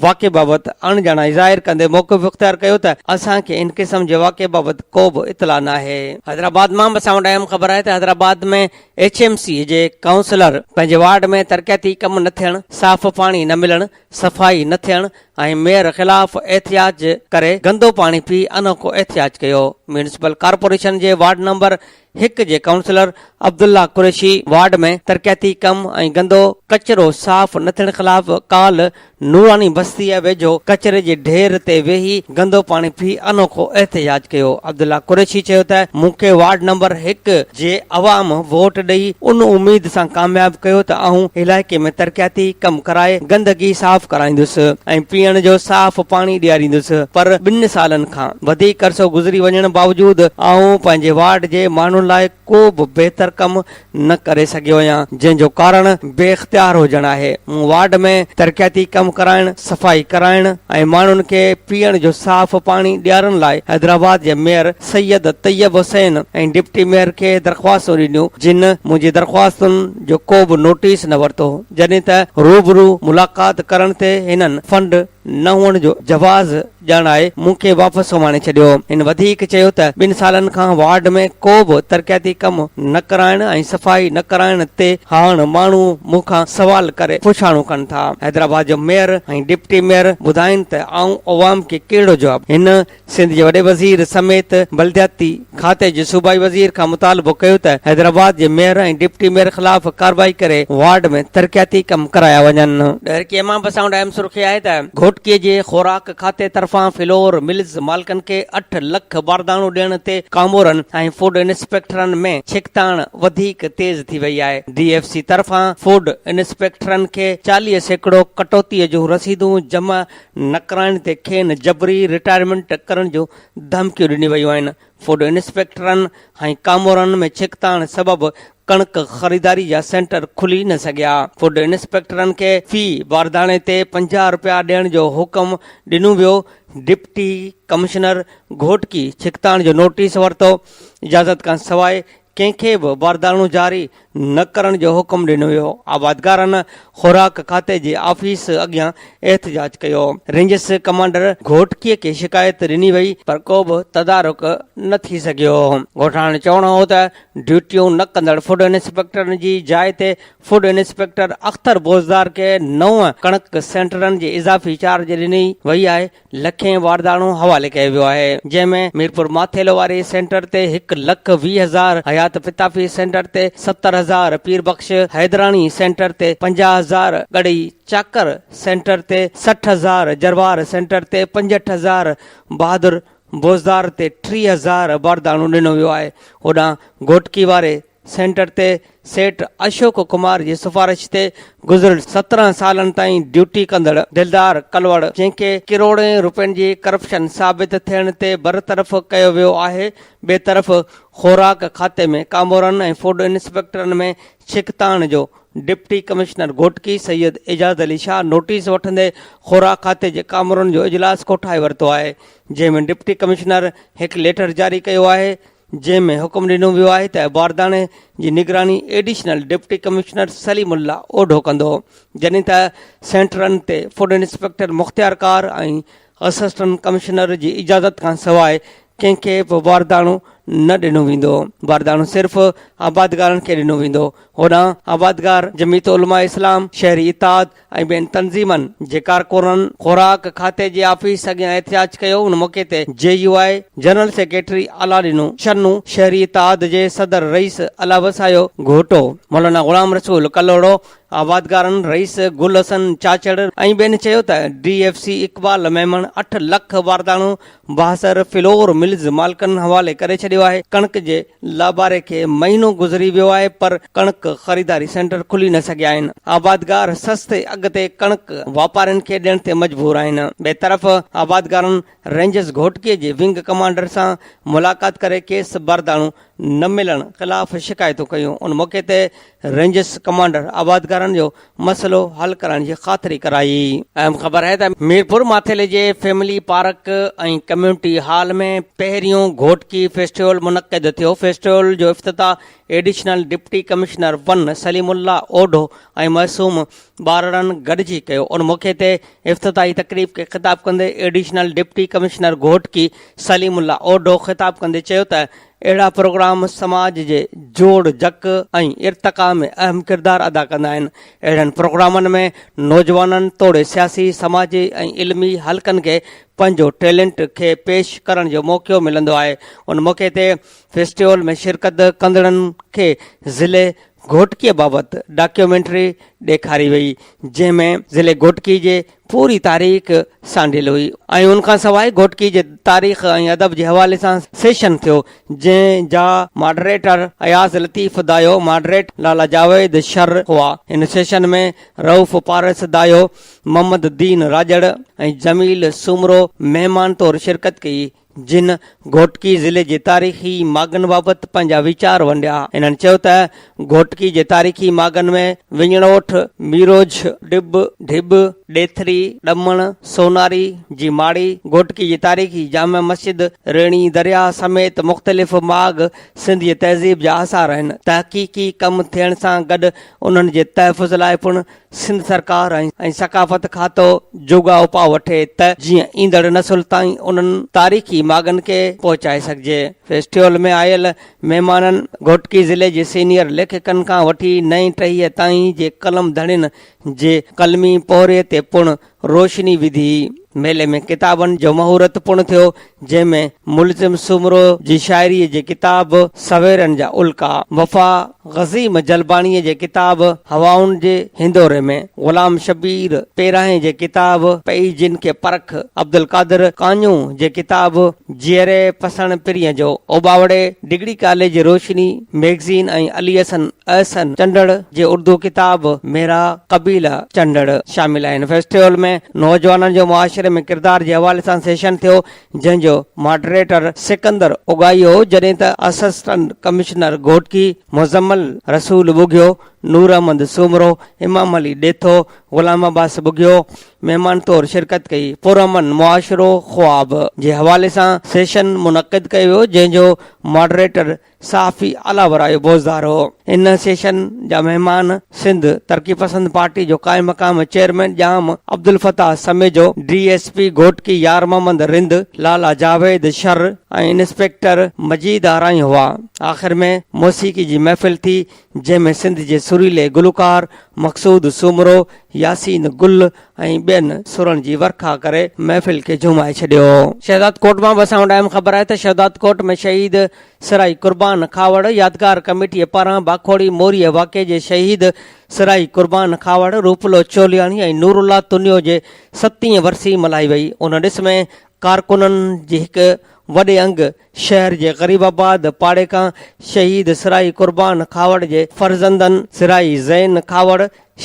واقعي بابت اڻ ڄاڻائي ظاهر ڪندي موقف اختيار ڪيو ته اسان کي ان قسم جي واقعي بابت ڪو به اطلاع ناهي. حيدرآباد مان به اسان وٽ اهم خبر آهي ته حيدرآباد ۾ ايڇ ايم سي جي ڪائونسلر پنهنجي وارڊ ۾ ترقياتي ڪم نه ٿيڻ، صاف پاڻي نه ملڻ، صفائي نه ٿيڻ ۽ ميئر خلاف احتجاج ڪري گندو پاڻي پي انوکو احتجاج ڪيو. ميونسپل ڪارپوريشن جي وارڊ نمبر هڪ جي ڪائونسلر عبدالله قريشي وارڊ ۾ ترقياتي ڪم ۽ گندو ڪچرو صاف نه ٿيڻ خلاف ڪالهه نوراني بستيء ويجهو ڪچري جي ڍير تي ويهي گندو پاڻي پي انوکو احتجاج ڪيو. عبدالله قريشي چيو ته مون کي وارڊ نمبر هڪ جي عوام ووٽ ڏئي ان اميد سان ڪامياب ڪيو ته آئون علائقي ۾ ترقياتي ڪم ڪرائي گندگي صاف ڪرائيندس ۽ پيئڻ جو صاف پاڻي ڏياريندس پر ٻن سالن کان وڌيڪ عرصو گذري وڃڻ باوجود آئون پنهنجي وارڊ جي ماڻهن لاء ڪو به بهتر ڪم نه ڪري سگهيو هيان جنهن جو ڪارڻ بي اختيار هجڻ آهي، مون وارڊ ۾ ترقياتي ڪم ڪرائڻ، صفائي ڪرائڻ ۽ ماڻهن کي پيئڻ جو صاف پاڻي ڏيارڻ لاء حيدرآباد جي mayor Syed Tayyab Hussain ۽ deputy mayor کي درخواستون ڏنيون جن منهنجي درخواستن جو ڪو به نوٽيس نه ورتو جڏهن ته روبرو ملاقات ڪرڻ تي هنن فنڊ نه هئڻ جو جواز ڄاڻائي مون کي واپس سمهاڻي ڇڏيو. هن وڌيڪ چيو ته ٻن سالن کان وارڊ ۾ ڪو به ترقياتي ڪم نه ڪرائڻ ۽ صفائي نه ڪرائڻ تي هاڻ ماڻهو مون کان سوال ڪري پڇاڻو ڪن ٿا. حيدرآباد جو ميئر ۽ ڊپٽي ميئر ٻڌائين ته آئون عوام کي ڪهڙو جواب ڏيان. هن سنڌ جي وڏي وزير سميت بلدياتي. کاتي جي صوبائي وزير کان مطالبو ڪيو ته حيدرآباد جي ميئر ۽ ڊپٽي ميئر خلاف ڪارروائي ڪري وارڊ ۾ ترقياتي ڪم ڪرايا وڃن. ڏهرڪي امان بساڻ اهم سرخي آهي ته گهوٽڪي جي خوراڪ کاتي طرفان فلور ملز مالڪن کي اٺ لک بارداڻو ڏيڻ تي ڪامورن ۽ فوڊ انسپيڪٽرن ۾ ڇڪتاڻ وڌيڪ تيز ٿي وئي آهي ڊي ايف سي طرفان فوڊ انسپيڪٽرن کي چاليهه سيڪڙو ڪٽوتي جون رسيدون جمع نه ڪرائڻ تي کين جبري رٽائرمينٽ ڪرڻ جون ڌمڪيون ڏنيون ويون آهن، فوڊ انسپيڪٽرن ۽ ڪامورن ۾ ڇڪتاڻ سبب ڪڻڪ خريداري جا سينٽر کلي نه سگهيا، فوڊ انسپيڪٽرن کي في بارداڻي تي پنجاهه رپيا ڏيڻ جو حڪم ڏنو ويو، ڊپٽي ڪمشنر گهوٽڪي ڇڪتاڻ جو نوٽيس ورتو، اجازت کان سواء ڪنهن کي به باردانو جاري نه ڪرڻ جو حڪم ڏنو ويو، آبادگارن خوراڪ کاتي جي آفيس اڳيان احتجاج ڪيو، رينجز ڪمانڊر گهوٽڪي کي شڪايت ڏني وئي پر ڪو به تدارڪ نه ٿي سگهيو، ڳوٺاڻن جو چوڻ هو ته ڊيوٽيون نه ڪندڙ فوڊ انسپيڪٽرن جي جاء تي فوڊ انسپيڪٽر اختر بوزدار کي نو ڪڻڪ سينٽرن جي اضافي چارج ڏني وئي آهي، لکين وارداڻو حوالي ڪيو ويو آهي جنهن ۾ ميرپور ماٿيلو واري سينٽر تي هڪ لک ويهه هزار، حيات پتافي سينٽر تي ستر هزار، پير بخش حيدراڻي سينٽر تي پنجاهه هزار، ڳڙهي چاڪر سينٽر تي سٺ هزار، جروار سينٽر تي پنجهٺ هزار، بهادر بوزدار تي ٽيهه هزار وارداڻو ڏنو ويو آهي، هوڏانهن گهوٽڪي واري سينٽر تي سيٺ اشوڪ ڪمار جي سفارش تي گذريل سترهن سالن تائين ڊيوٽي ڪندڙ دلدار ڪلوڙ جنهن کي ڪروڙين روپين جي ڪرپشن ثابت ٿيڻ تي برطرف ڪيو ويو آهي ٻئي طرف خوراڪ کاتي ۾ ڪامورن ۽ فوڊ انسپيڪٽرن ۾ ڇڪتاڻ جو deputy commissioner Ghotki Syed Ejaz Ali Shah notice وٺندي خوراڪ کاتي جي ڪامورن جو اجلاس ڪوٺائي ورتو آهي جنهن ۾ ڊپٽي ڪمشنر هڪ ليٽر جاري ڪيو آهي جنهن ۾ حڪم ڏنو ويو آهي ته عبارتاڻي جي نگراني additional deputy commissioner Saleem Ullah Odho ڪندو جڏهن ته سينٽرن تي فوڊ انسپيڪٽر مختيار ڪار ۽ اسسٽنٽ ڪمشنر جي اجازت کان سواء ڪنهن کي به بارداڻو نه ڏنو ويندو بارداڻو صرف آبادگارن کي ڏنو ويندو هوڏانهن آبادگار جميعت علماء اسلام شهري اتحاد ۽ ٻين تنظيمن جي ڪارڪنن خوراڪ کاتي جي آفيس اڳيان احتجاج ڪيو ان موقعي تي J U I general secretary اعليٰ ڏنو شنو شهري اتحاد جي صدر رئيس الله وسايو گهوٽو مولانا غلام رسول ڪلهوڙو آبادگارن رئيس گل حسن چاچڙ ۽ ٻين چيو ته D F C Iqbal Memon اٺ لک وارداڻو بااثر فلور ملز مالڪن حوالي ڪري ڇڏيو آهي ڪڻڪ جي لاباري کي مهينو گذري ويو آهي پر ڪڻڪ خريداري سينٽر کلي نه سگهيا آهن، آبادگار سستي اگهه تي ڪڻڪ واپارين کي ڏيڻ تي مجبور آهن، ٻئي طرف آبادگارن رينجرز گهوٽڪي جي ونگ ڪمانڊر سان ملاقات ڪري کيس بارداڻو نه ملڻ خلاف شڪايتون ڪيون، ان موقعي تي رينجرز ڪمانڊر آبادگارن جو مسئلو حل ڪرائڻ جي خاطري ڪرائي. اهم خبر آهي ته ميرپور ماٿيلي جي فيملي پارڪ ۽ ڪميونٽي هال ۾ پهريون گهوٽڪي فيسٽيول منعقد ٿيو، فيسٽيول جو افتتاح additional deputy commissioner one Saleem Ullah Odho ۽ معصوم ٻارڙن گڏجي ڪيو، ان موقعي تي افتتاحي تقريب کي خطاب ڪندي additional deputy commissioner Ghotki Saleem Ullah Odho خطاب ڪندي چيو ته اهڙا پروگرام سماج جي جوڙ جڪ ۽ ارتقا ۾ اهم ڪردار ادا ڪندا آهن. اهڙن پروگرامن ۾ نوجوانن توڙي سياسي، سماجي ۽ علمي حلقن کي پنهنجو ٽيلنٽ کي پيش ڪرڻ جو موقعو ملندو آهي. ان موقعي تي فيسٽيول ۾ شرڪت ڪندڙن کي ضلعي گهوٽڪيء بابت ڊاڪيومينٽري ڏيکاري وئي، جنهن ۾ ضلعي گهوٽڪي جي پوري تاريخ سانڍيل هئي ۽ ان کان سواء گهوٽڪي جي تاريخ ۽ ادب جي حوالي سان سيشن ٿيو، جنهن جا ماڊريٽر اياز لطيف دايو، ماڊريٽ لالا جاويد شر هئا. ان سيشن ۾ رئوف پارس دايو، محمد دين راڄڙ ۽ جميل سومرو مهمان طور شرڪت ڪئي، جن گهوٽڪي ضلعي جي تاريخي ماڳن بابت پنهنجا ويچار ونڊيا. انهن چيو ته گهوٽڪي جي تاريخي ماڳن ۾ وڃڻوٺ، ميروجهه، ڊٻ، ڍٻ، ڏيٿري، ڏمڻ، سوناري جي ماڙي، گهوٽڪي جي تاريخي جامع مسجد، ريڻي درياهه سميت مختلف ماڳ سنڌي تهذيب جا آثار آهن. تحقيقي ڪم ٿيڻ سان گڏ انهن جي تحفظ لاء پڻ سنڌ سرڪار ۽ ثقافت کاتو جوڳا اپاء وٺي ته جيئن ايندڙ نسل تائين انهن تاريخي ماڳن کي پهچائي سگهجي. فيسٽيول ۾ آيل مهمانن گهوٽڪي ضلعي جي سينيئر ليکڪن کان وٺي نئين ٽهيء تائين جي قلم ڌڻين جي قلمي پوهري تي پڻ روشني وڌي، ميلي ۾ ڪتابن جو مهورت پڻ ٿيو، جنهن ۾ ملزم سومرو جي شاعريء جي ڪتاب سويرن جا الڪا، وفا غزيم جلباڻيء جي ڪتاب هوائن جي هندوري ۾، غلام شبير پيراهين جي ڪتاب پئي جن کي پرک، عبدالقادر ڪانيو جي ڪتاب جيئري پسڻ پرينء جو، اوٻاوڙي ڊگري ڪاليج روشني ميگزين ۽ علي حسن احسن چنڊڙ جي اردو ڪتاب ميرا قبيله چنڊڙ شامل آهن. فيسٽيول ۾ نوجوانن جو معاشري ۾ ڪردار جي حوالي سان سيشن ٿيو جنهن جو ماڊريٽر سڪندر اگائي هو جڏهن ته اسسٽنٽ ڪمشنر گهوٽڪي مزمل رسول ٻگهيو، نور احمد سومرو، امام علي ڏيٿو، غلام عباس ٻگهيو، مهمان طور شرڪت ڪئي. پرامن معاشرو خواب جي حوالي سان سيشن منعقد ڪيو ويو جنهن جو ماڊريٽر صحافي اعليٰ ورايو بوزدار هو. ان سيشن جا مهمان سنڌ ترقي پسند پارٽي جو قائم مقام chairman Jam Abdul Fatah Samejo, D S P Ghotki Yar Muhammad Rind, Lala Javed Shar ۽ inspector Majeed Arain هئا. آخر ۾ موسيقي جي محفل ٿي جنهن ۾ سنڌ جي سريلي گلوڪار مقصود سومرو، ياسين گل ۽ ٻين سرن جي ورکا ڪري محفل کي جهومائي ڇڏيو. شهداد ڪوٽ مان به اسان وٽ اهم خبر آهي ته شهداد ڪوٽ ۾ شهيد سرائي قربان کهاوڙ يادگار ڪميٽي پاران باکوڙي موريء واقعي جي شهيد سرائي قربان کهاوڙ، روپلو چولياڻي ۽ نورالله تنيو جي ستين ورسي ملهائي وئي. ان ڏس ۾ ڪارڪنن جي هڪ وڏي انگ شهر جي غريب آباد پاڙي کان شهيد سرائي قربان کهاوڙ جي فرزندن سرائي زين کهاوڙ،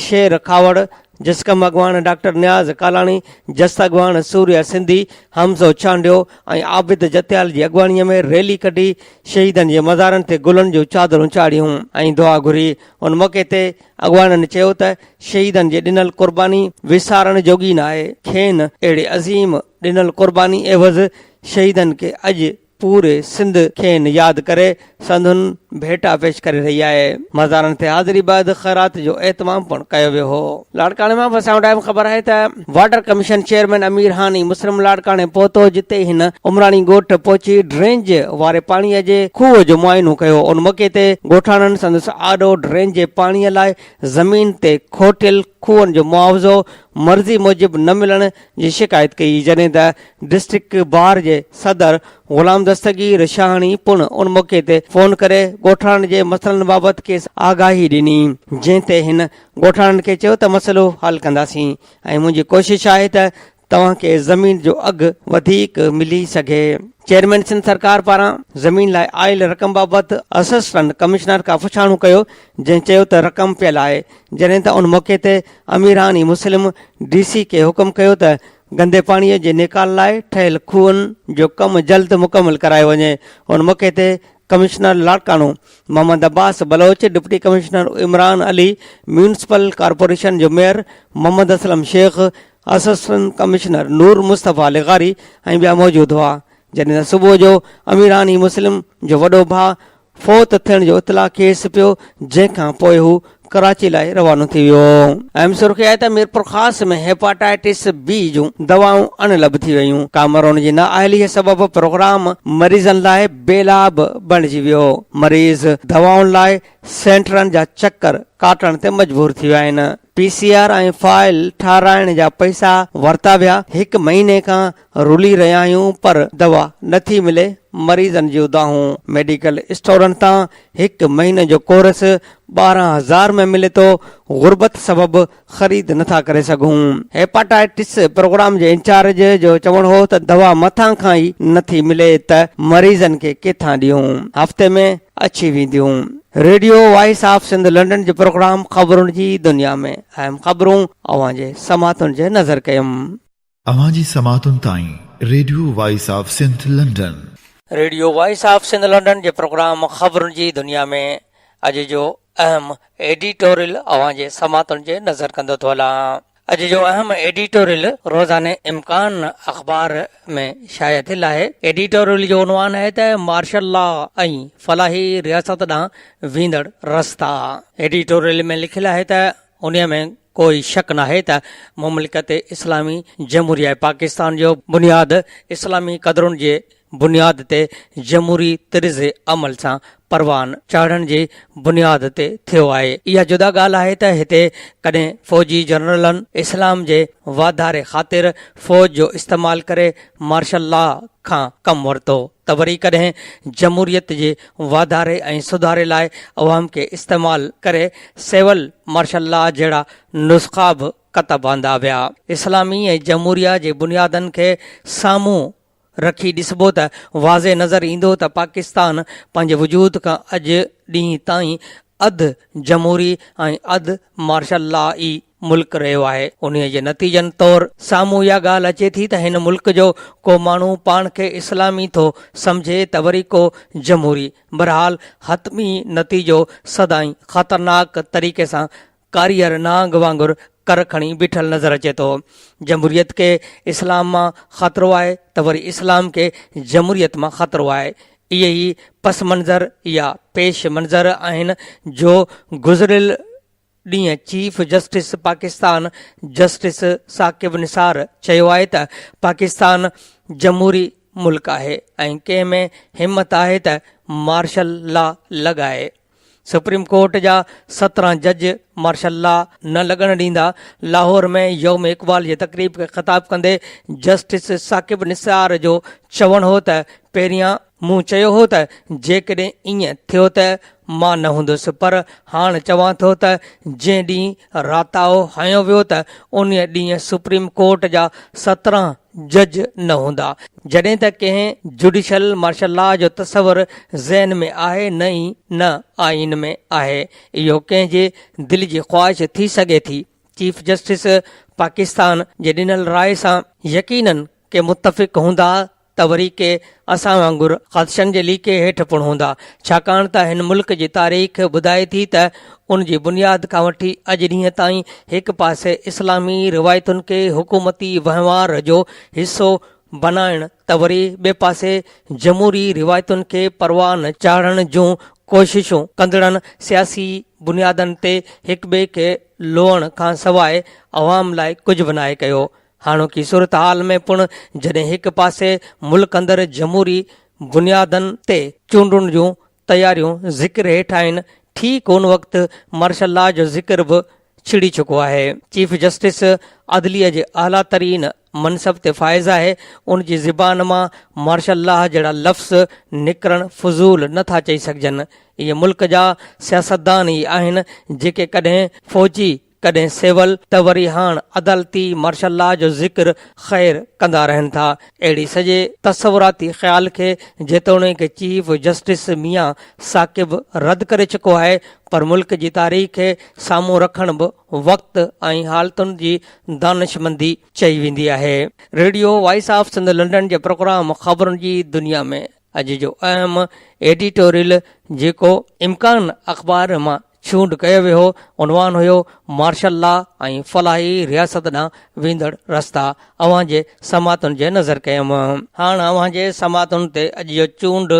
شير کهاوڙ، جسقم اڳواڻ ڊاڪٽر نياز ڪالاڻي، جس اڳواڻ سوريا سنڌي، حمزو چانڊيو ۽ عابد جتيال جي اڳواڻي ۾ ريلي ڪڍي شهيدن جي مزارن تي گلن جون چادرون چاڙهيون ۽ دعا گهري ان موقعي تي اڳواڻن چيو ته شهيدن جي ڏنل قرباني وسارڻ جوڳي ناهي کين اهڙي عظيم ڏنل قرباني عيوض شهيدن کي اڄ پوري سنڌ کين ياد ڪري سندن ڀيٽا پيش ڪري رهي آهي مزارن تي حاضري بعد خيرات جو اهتمام پڻ ڪيو ويو هو لاڙڪاڻي مان وسائڻ ٽائيم خبر آهي ته water commission chairman Amir Hani مسرم لاڙڪاڻي پهتو جتي هن عمراڻي ڳوٺ پهچي ڊرينج واري پاڻي جي کوهه جو معائنو ڪيو ان موقعي تي ڳوٺاڻن سندس آڏو ڊرينج جي پاڻي لاء زمين تي کوٽيل کوهن جو معاوضو مرضي موجب نه ملڻ جي شڪايت ڪئي جڏهن ته ڊسٽرڪٽ بار جي صدر غلام دستگير شاهاڻي پڻ ان موقعي تي فون ڪري ڳوٺاڻن جي مسئلن بابت کيس آگاهي ڏني جنهن تي هن ڳوٺاڻن کي چيو ته مسئلو حل ڪنداسين ۽ منهنجي ڪوشش آهي ته توهان کي زمين جو اگهه وڌيڪ ملي سگهي چيئرمين سنڌ سرڪار پاران زمين لاء آيل رقم بابت اسسٽنٽ ڪمشنر کان پڇاڻو ڪيو جنهن چيو ته رقم پيل آهي جڏهن ته ان موقعي تي اميران ئي مسلم ڊي سي کي حڪم ڪيو ته گندي پاڻي جي نيڪال لاء ٺهيل کوهن جو ڪم جلد مڪمل ڪرايو وڃي. ان موقعي تي commissioner Larkana Muhammad Abbas Baloch, deputy commissioner Imran Ali, municipal corporation جو mayor Muhammad Aslam Sheikh, assistant commissioner Noor Mustafa لغاري ۽ ٻيا موجود هئا. جڏهن ته صبح جو اميران ئي مسلم جو وڏو ڀاء فوت ٿيڻ جو اطلاع کيس پيو جنهن کان پوء هو ڪراچي لاء روانو ٿي ويو. اهم سرخي آهي ته ميرپورخاص ۾ هيپاٽائيٽس بي جون دوائون اڻ لڀ ٿي ويون، ڪامرون جي نااهليء سبب پروگرام مريضن لاء بيلا به بڻجي ويو، مريض دوائن لاء سينٽرن جا چڪر ڪاٽڻ تي مجبور ٿي ويا آهن، پي سي آر ۽ فائل ٺاهرائڻ جا پئسا ورتا ويا، هڪ مهيني کان رلي رهيا آهيون پر دوا نه ٿي ملي، مريضن جون دانهون ميڊيڪل اسٽورن تان هڪ مهيني جو ڪورس ٻارهن هزار ۾ ملي ٿو، غربت سبب خريد نه ٿا ڪري سگهون. هيپاٽائيٽس پروگرام جي انچارج جو چوڻ هو ته دوا مٿان کان ئي نه ٿي ملي ته مريضن کي ڪٿان ڏيون، هفتي ۾ اڇي وينديون. Radio voice of Sindh London جي پروگرام خبرن جي دنيا ۾ اهم خبرون اوهان جي سماعتن جي نظر ڪيم. اوهان جي سماعتن تائين radio voice of Sindh London. Radio voice of Sindh London جي پروگرام خبرن جي دنيا ۾ اڄ جو اهم ايڊيٽوريل اوهان جي سماعتن جي نظر ڪندو ٿو هلان. اڄ جو اهم ايڊيٽوريل روزاني امڪان اخبار ۾ شايع ٿيل آهي. ايڊيٽوريل جو عنوان آهي ته مارشل لا ۽ فلاحي رياست ڏانهن ويندڙ رستا. ايڊيٽوريل ۾ لکيل آهي ته انهيء ۾ ڪوئي شڪ ناهي ته مملڪت اسلامي جمهوريه پاڪستان جو بنياد اسلامي قدرن جي بنياد تي جمهوري طرز عمل سان پروان چاڙهڻ جي بنياد تي ٿيو آهي. اها جدا ڳالهه آهي ته هتي ڪڏهن فوجي جنرلن اسلام جي واڌاري خاطر فوج جو استعمال ڪري مارشل لا کان ڪم ورتو. ته وري ڪڏهن جمهوريت جي واڌاري ۽ سڌاري لاء عوام کي استعمال ڪري سول مارشل لا جهڙا نسخا به ڪتب آندا ويا. اسلامي ۽ جمهوريه جي بنيادن کي سامهون رکي ڏسبو ته واضح نظر ايندو ته پاڪستان پنهنجي وجود کان اڄ ڏينهن تائين اڌ جمهوري ۽ اڌ مارشل لا ئي ملڪ رهيو آهي، انهيء جي نتيجن طور سامهون اها ڳالهه اچي ٿي ته هن ملڪ جو ڪو ماڻهو پاڻ کي اسلامي ٿو سمجهي ته وري ڪو جمهوري. بهرحال حتمي نتيجو سدائين خطرناڪ طريقي سان ڪاريهر نانگ وانگر ڪر کڻي بيٺل نظر اچي ٿو. جمهوريت کي اسلام مان خطرو آهي ته وري اسلام کي جمهوريت مان خطرو آهي. اهي ئي پس منظر يا پيش منظر آهن جو گذريل. ڏينهن chief justice Pakistan justice Saqib Nisar چيو آهي ته پاڪستان جمهوري ملڪ آهي ۽ ڪنهن ۾ همت آهي ته مارشل لا لڳائي. سپريم ڪورٽ جا سترهن جج مارشل لا نه لڳڻ ڏيندا. لاهور ۾ يوم اقبال جي تقريب کي خطاب ڪندي جسٽس ثاقب نثار جو چوڻ هو ته پهريان مون چيو هو ته جيڪڏهن ائين ٿيو ته مان نه هوندس پر هاڻ چوان ٿو ته جنهن ڏينهن راتاهو هنيو ويو ته انهيء ڏينهن سپريم ڪورٽ جا سترهن جج نه هوندا. جڏهن ته ڪنهن جڊيشل مارشل لا جو تصور ذهن ۾ آهي نه ئي نه آئين ۾ آهي. اهو ڪنهن جي دل جي خواهش ٿي سگهي ٿي. چيف جسٽس پاڪستان جي ڏنل راء سان يقينن ڪي متفق هوندا ته وري ڪي اسان وانگر خدشن جي ليڪي هيٺ پڻ هوندا، ڇاڪاڻ ته هن ملڪ جي تاريخ ٻڌائي ٿي ته ان جي بنياد کان وٺي اڄ ڏينهن تائين هڪ پاسي اسلامي روايتن کي حڪومتي وهنوار جو حصو بنائڻ ته وري ٻئي پاسي جمهوري روايتن کي پروان چاڙهڻ جون ڪوششون ڪندڙن سياسي بنيادن تي هڪٻئي کي لوئڻ کانسواء عوام لاء ڪجهه به ناهي ڪيو. هاڻوڪي صورتحال ۾ پڻ جڏهن هڪ پاسي ملڪ اندر جمهوري بنيادن تي چونڊن جون تياريون ذڪر هيٺ آهن، ٺيڪ ان وقت مارشل لا جو ذڪر به ڇڙي چڪو آهي. چيف جسٽس عدليه جي اعليٰ ترين منصب تي فائز آهي، ان جي زبان مان مارشل لا جهڙا لفظ نڪرڻ فضول نه ٿا چئي سگهجن. اهي ملڪ جا سياستدان ئي آهن جيڪي ڪڏهن فوجي ڪڏهن سول ته وري هاڻ عدالتي مارشل لا جو ذڪر خير ڪندا رهن ٿا. اهڙي سڄي تصوراتي خيال کي جيتوڻيڪ چيف جسٽس ميان ثاقب رد ڪري چڪو آهي پر ملڪ جي تاريخ کي سامهون رکڻ به وقت ۽ حالتن جي دانشمندي چئي ويندي آهي. Radio voice of Sindh London جي پروگرام خبرن جي دنيا ۾ اڄ جو اهم ايڊيٽوريل جيڪو امڪان اخبار مان چونڊ ڪيو ويو هو، عنوان هيو مارشل لا ۽ فلاحي رياست ڏانهن ويندڙ رستا اوهان جي سماعتن جي نظر ڪيم. هاڻ اوهان جي سماعتن تي اڄ جو چونڊ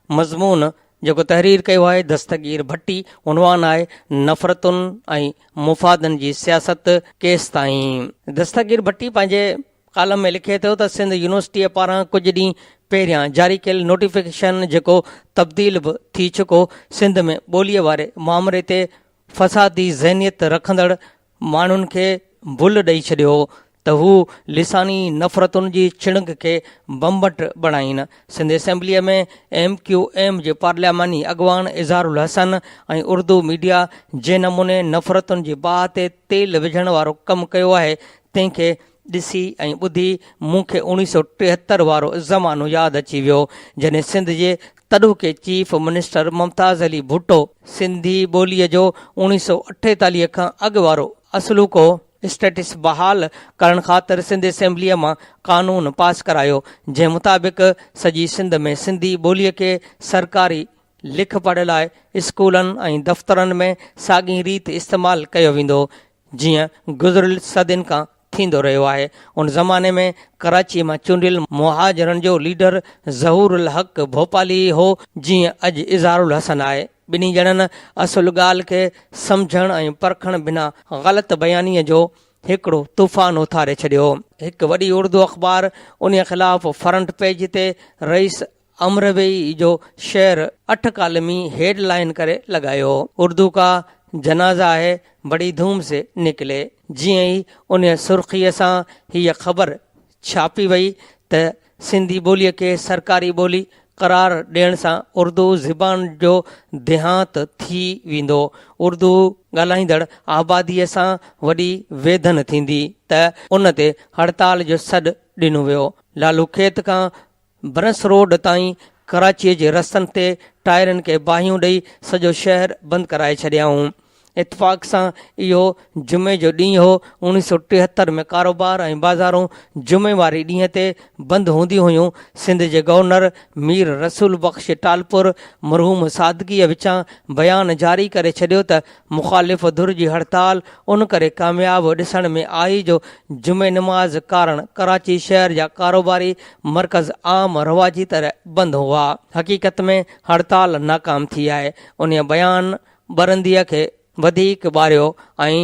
مضمون جيڪو تحرير ڪيو آهي دستگير ڀٽي، عنوان آهي نفرتن ۽ مفادن جي سياست ڪيستائين؟ دستگير ڀٽي پنهنجي ڪالم ۾ لکي ٿو ته سنڌ يونيورسٽيء پاران ڪجهه ڏينهن پهريان جاري ڪيل نوٽيفڪيشن جيڪو تبديل به ٿي چڪو، سنڌ ۾ ٻوليء واري مامري تي فسادي ذهنيت رکندڙ ماڻهن کي ڀل ڏئي ڇڏيو هو ته هو لساني نفرتن جي چڻگ کي بمبٽ بڻائين. سنڌ اسيمبليء ۾ ايم ڪيو ايم جي پارلياماني اڳواڻ اظهار الحسن ۽ اردو ميڊيا جنهن نموني نفرتن جي باهه تي تيل وجهڻ وارو ڪم ڪيو آهي تنهن کي ڏسي ۽ ٻڌي مون کي اوڻيهه سؤ ٽيهتر وارو زمانو ياد اچي ويو جڏهن سنڌ جي تڏهوڪي چيف منسٽر ممتاز علي ڀٽو سنڌي ٻولي جو اوڻيهه سؤ اٺيتاليهه کان اڳ وارو اصلوڪو اسٽيٽس بحال ڪرڻ خاطر سنڌ اسيمبليء مان قانون پاس ڪرايو جنهن مطابق سڄي سنڌ ۾ سنڌي ٻوليء کي سرڪاري لک پڙهه لاء اسڪولن ۽ دفترن ۾ ساڳئي ريت استعمال ڪيو ويندو جيئن گذريل صدين کان ٿيندو رهيو آهي. ان زماني ۾ ڪراچيء مان چونڊيل مهاجرن جو ليڊر ظهور الحق ڀوپالي ئي هو، جيئن اڄ اظهار الحسن آهي. ٻنهي ڄڻن اصل ڳالهه کي سمجهڻ ۽ پرکڻ بنا غلط بيانيء جو هڪڙو طوفان اٿاري ڇڏيو هو. هڪ وڏي اردو اخبار انهيء خلاف فرنٽ پيج تي رئيس امروي جو شعر اٺ ڪالمي هيڊ لائين ڪري لڳايو، اردو ڪا جنازه هي بڙي ڌوم سي نڪلي. جيئن ئي انهيء سرخيء سان هيء خبر ڇاپي وئي ته سنڌي ٻوليء کي سرڪاري ٻولي قرار ڏيڻ سان اردو زبان جو ديهانت ٿي ويندو، اردو ڳالهائيندڙ آباديء سان وڏي ويڌن ٿيندي ته ان تي هڙتال جو سڏ ڏنو ويو. لالوکيت کان برنس روڊ تائين ڪراچيء جي رستن تي ٽائرن کي باهيون ڏئي سڄو شهر بند ڪرائي ڇڏيائون. اتفاق سان اهو جمعي جو ڏينهن هو. اوڻيهه سؤ ٽيهتر ۾ ڪاروبار ۽ بازارون جمعي واري ڏينهن تي بند هونديون هيون. سنڌ جي گورنر مير رسول بخش ٽالپر مرحوم سادگيء وچان بيان جاري ڪري ڇڏيو ته مخالف ڌر جي هڙتال ان ڪري ڪامياب ڏسڻ ۾ آئي جو جمعي نماز ڪارڻ ڪراچي شهر جا ڪاروباري مرڪز عام رواجي طرح بند هئا. حقيقت ۾ هڙتال ناڪام ٿي آهي. انهيء بيان ٻرنديء کي وڌيڪ ٻاريو ۽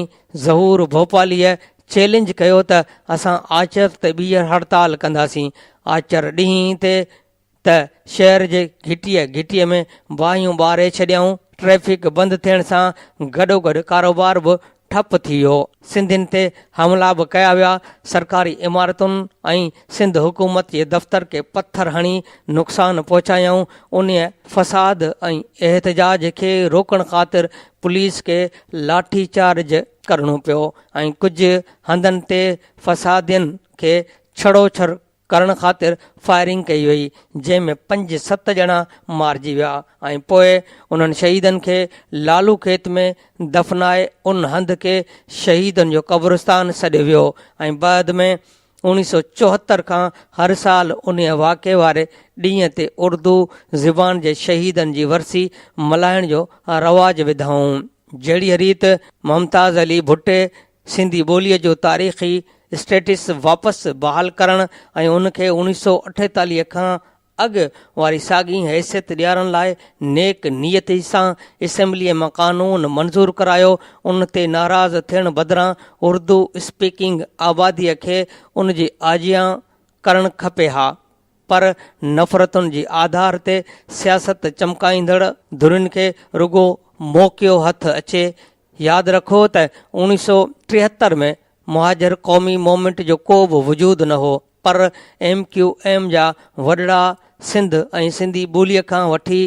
ظهور ڀوپاليء چئلينج ڪيو ته اسان آچر تي ٻيهر هڙتال ڪنداسين. آچر ڏينهن تي ته شهر جي گهٽيء گهٽيء ۾ باهيون ٻاري ڇڏيائون، ٽريفڪ بند ٿيڻ سان گڏوگڏ ڪاروبار به ٺپ ٿي ويو، سنڌين تي حملا به ڪيا ويا، سرڪاري عمارتن ۽ سنڌ حڪومت جي دفتر کي پٿر هڻي نقصان پهچايائون، انهيء فساد ۽ احتجاج کي روڪڻ خاطر پوليس کي لاٺي چارج ڪرڻو پيو ۽ ڪجهه هنڌن تي فسادين کي ڇڙوڇڙ ڪرڻ خاطر فائرنگ ڪئي وئي جنهن ۾ پنج ست ڄڻا مارجي ويا ۽ پوء انهن شهيدن کي لالو کيت ۾ دفنائي ان هنڌ کي شهيدن جو قبرستان سڏيو ويو ۽ بعد ۾ اوڻيهه سؤ چوهتر کان هر سال انهيء واقعي واري ڏينهن تي اردو زبان جي شهيدن جي ورسي ملهائڻ جو رواج وڌائون جهڙيء ريت ممتاز علي ڀٽي سنڌي ٻوليء جو تاريخي اسٽيٽس واپس بحال ڪرڻ ۽ ان کي اوڻيھ سؤ اٺيتاليھ کان اڳ واري ساڳئي حيثيت ڏيارڻ لاء نيڪ نيتي سان اسيمبليء مان قانون منظور ڪرايو، ان تي ناراض ٿيڻ بدران اردو اسپيڪنگ آباديء کي ان جي آجيان ڪرڻ کپي ها. پر نفرتن جي آڌار تي سياست چمڪائيندڙ ڌرين کي رڳو موقعو هٿ اچي. ياد رکو ته اوڻيهه سؤ ٽيهتر ۾ مهاجر قومي مومينٽ جو ڪو به وجود نه هو پر ايم ڪيو ايم جا وڏڙا سنڌ ۽ سنڌي ٻولي کان وٺي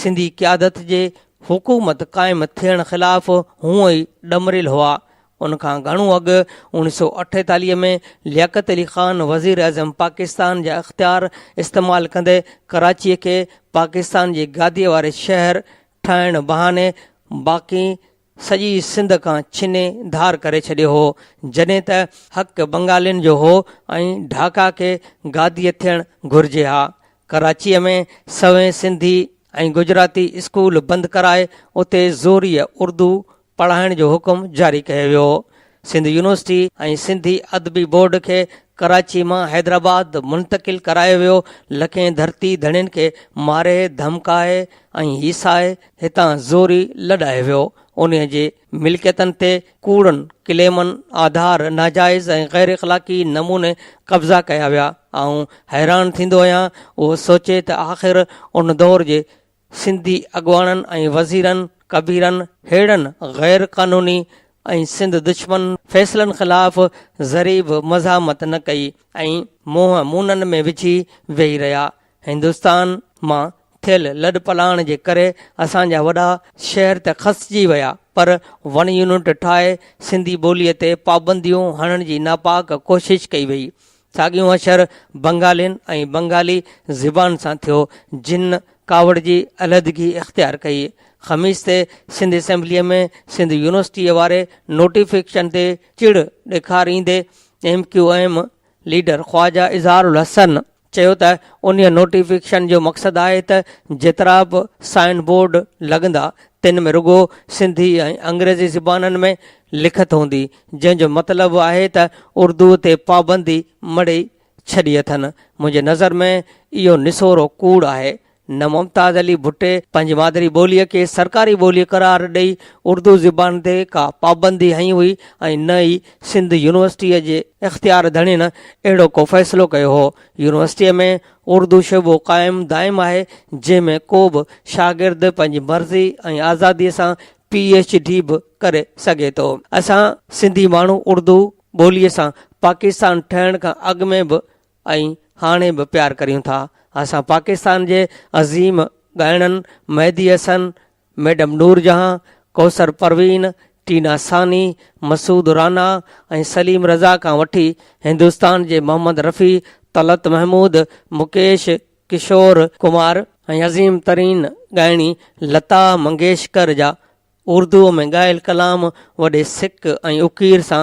سنڌي قيادت جي حڪومت قائم ٿيڻ خلاف هونء ئي ڏمريل هئا. ان کان گهڻو اڳ اوڻيھ سؤ اٺيتاليھ ۾ لياقت علي خان وزيراعظم پاڪستان جا اختيار استعمال ڪندي ڪراچيء کي پاڪستان جي گاديء واري شهر ٺاهڻ بهاني باقي سڄي سنڌ کان ڇني ڌار ڪري ڇڏيو هو، جڏهن ته حق بنگالين جو هو ۽ ڍاڪا کي گاديء ٿيڻ گهرجي ها. ڪراچيء ۾ سوين سنڌي ۽ گجراتي اسڪول بند ڪرائي اتي زوريء اردو پڙهائڻ جو حڪم جاري ڪيو ويو. سنڌ يونيورسٽي ۽ سنڌي ادبي بورڊ کي ڪراچي مان حيدرآباد منتقل ڪرايو ويو. لکين ڌرتي ڌڻين کي ماري، ڌمڪائي ۽ هيسائي هتان زوري لڏائي ويو. انهي جي ملڪيتن تي ڪوڙن ڪليمن آڌار ناجائز ۽ غيراخلاقي نموني قبضا ڪيا ويا. آئون حيران ٿيندو آهيان اهو سوچي ته آخر ان دور جي سنڌي اڳواڻن ۽ وزيرن ڪبيرن ههڙن غير قانوني ۽ سنڌ دشمن فيصلن خلاف ذري به مزاحمت نه ڪئي ۽ منهن مونن ۾ وجهي ويهي رهيا. هندستان مان ٿيل لڏپلاڻ جي ڪري اسان جا وڏا شهر ته کسجي ويا پر ون يونٽ ٺاهي سنڌي ٻوليء تي پابنديون هڻڻ جي ناپاڪ ڪوشش ڪئي ويئي. ساڳيون اشر بنگالين ۽ بنگالي زبان سان ٿيو، جن ڪاوڙ جي علحدگي اختيار ڪئي. خميس تي سنڌ اسيمبليء ۾ سنڌ يونيورسٽيء واري نوٽيفڪيشن تي چڙ ڏيکاريندي M Q M leader Khawaja Izhar ul Hassan چيو ته انهيء نوٽيفڪيشن جو مقصد آهي ته جيترا به سائن بورڊ لڳندا، تن ۾ رڳو سنڌي ۽ انگريزي زبانن ۾ لکت هوندي، جنهن جو مطلب آهي ته اردوء تي پابندي مڙهي ڇڏي اٿن. منهنجي نظر ۾ اهو نسورو ڪوڙ آهي. نه ممتاز علي ڀٽي پنهنجي مادري ٻوليء کي سرڪاري ٻوليء قرار ڏئي اردو زبان تي ڪا پابندي هنئي هئي ۽ نه ئي سنڌ يونيورسٽيء جي اختيار ڌڻين اهڙو ڪو فيصلو ڪيو هو. يونيورسٽيء ۾ اردو شعبو قائم دائم آهي، جنهن ۾ ڪو به شاگرد پنهنجي مرضي ۽ آزاديء سان پي ايڇ ڊي به ڪري سگهي ٿو. اسان سنڌي ماڻهو اردو ٻولي سان پاڪستان ٺهڻ کان اڳ ۾ به ۽ هاڻي به پيار ڪريون ٿا. اسان پاڪستان جي عظيم ڳائڻن مهدي حسن، ميڊم نور جهان، ڪوثر پروين، ٽينا ثاني، مسعود رانا ۽ سليم رضا کان وٺي هندستان جي محمد رفيع، طلعت محمود، مڪيش، ڪشور ڪمار ۽ عظيم ترين ڳائڻي لتا منگيشڪر جا اردوء ۾ ڳايل ڪلام وڏي سڪ ۽ اڪير سان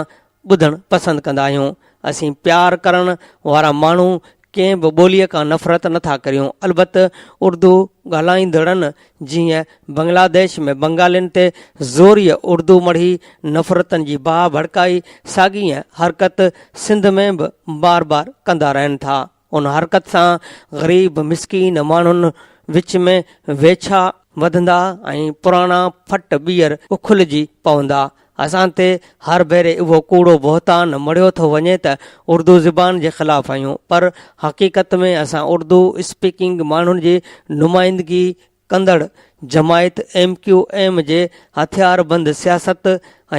ٻڌڻ پسند ڪندا آهيون. اسين پيار ڪرڻ وارا ماڻهو ڪنهن به ٻوليء کان نفرت نه ٿا ڪريون. البت اردو ڳالهائيندڙن جيئن بنگلاديش ۾ بنگالين تي زوريء اردو مڙهي نفرتن جي باهه ڀڙڪائي، ساڳيء حرڪت سنڌ ۾ به بار بار ڪندا رهن ٿا. ان حرڪت سان غريب مسڪين ماڻهن وچ ۾ ويڇا وڌندا ۽ پراڻا ڦٽ ٻيهر اکلجي پوندا. اسان تي هر ڀيري اهو ڪوڙو بهتان مڙهيو ٿو وڃي ته اردو زبان جي خلاف آهيون پر حقيقت ۾ اسان اردو اسپيڪنگ ماڻهن جي نمائندگي ڪندڙ جماعت ايم ڪيو ايم جي هٿياربند سياست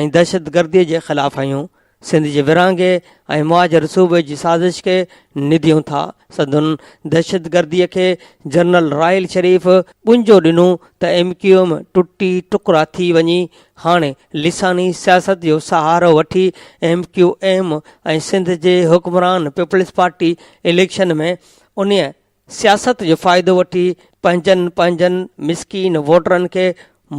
۽ دهشتگردي جي خلاف آهيون، سنڌ جي ورهاڱي ۽ مهاجر صوبي جي سازش کي نديون ٿا سنڌن دهشتگردي کي جنرل راحيل شريف ٻنجو ڏنو ته ايم ڪيو ايم ٽٽي ٽڪرا ٿي وڃي هاڻي لساني سياست جو سهارو وٺي ايم ڪيو ايم ۽ سنڌ جي حڪمران پيپلزپارٽي اليڪشن ۾ انهي سياست جو فائدو وٺي پنهنجن پنهنجن مسڪين ووٽرن کي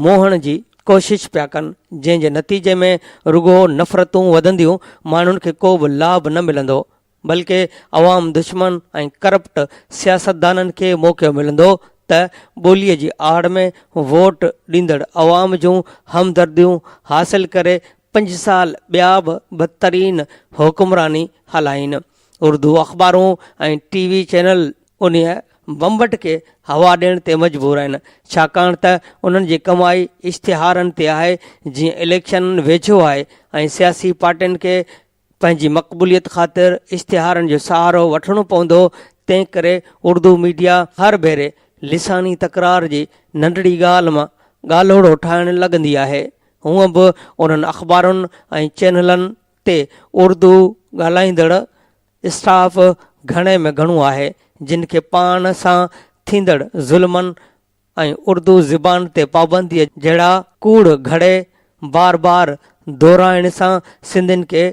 موهڻ جي ڪوشش پيا ڪن جنهن جي نتيجي ۾ رڳو نفرتون وڌنديون ماڻهن کي ڪو به لاڀ نه ملندو بلڪه عوام دشمن ۽ ڪرپٽ سياستدانن کي موقعو ملندو ته ٻولي جي آڙ ۾ ووٽ ڏيندڙ عوام جون همدرديون حاصل ڪري پنج سال ٻيا به بدترين حڪمراني هلائين. اردو اخبارون ۽ ٽي وي چينل انهيء بمبٽ کي هوا ڏيڻ تي مجبور آهن، ڇاڪاڻ ته انهن جي ڪمائي اشتهارن تي آهي، جيئن اليڪشن ويجهو آهي ۽ سياسي پارٽين کي پنهنجي مقبوليت خاطر اشتهارن جو سهارو وٺڻو پوندو، تنهنڪري اردو ميڊيا هر ڀيري لساني تڪرار جي ننڍڙي ڳالهه مان ڳالهوڙو ٺاهڻ لڳندي آهي. هونء به انهن اخبارن ۽ چينلن تي اردو ڳالهائيندڙ اسٽاف گهڻي ۾ گهڻو آهي، جن کي پاڻ سان ٿيندڙ ظلمن ۽ اردو زبان تي پابنديء جهڙا ڪوڙ گهڙي بار بار دهرائڻ سان سنڌين کي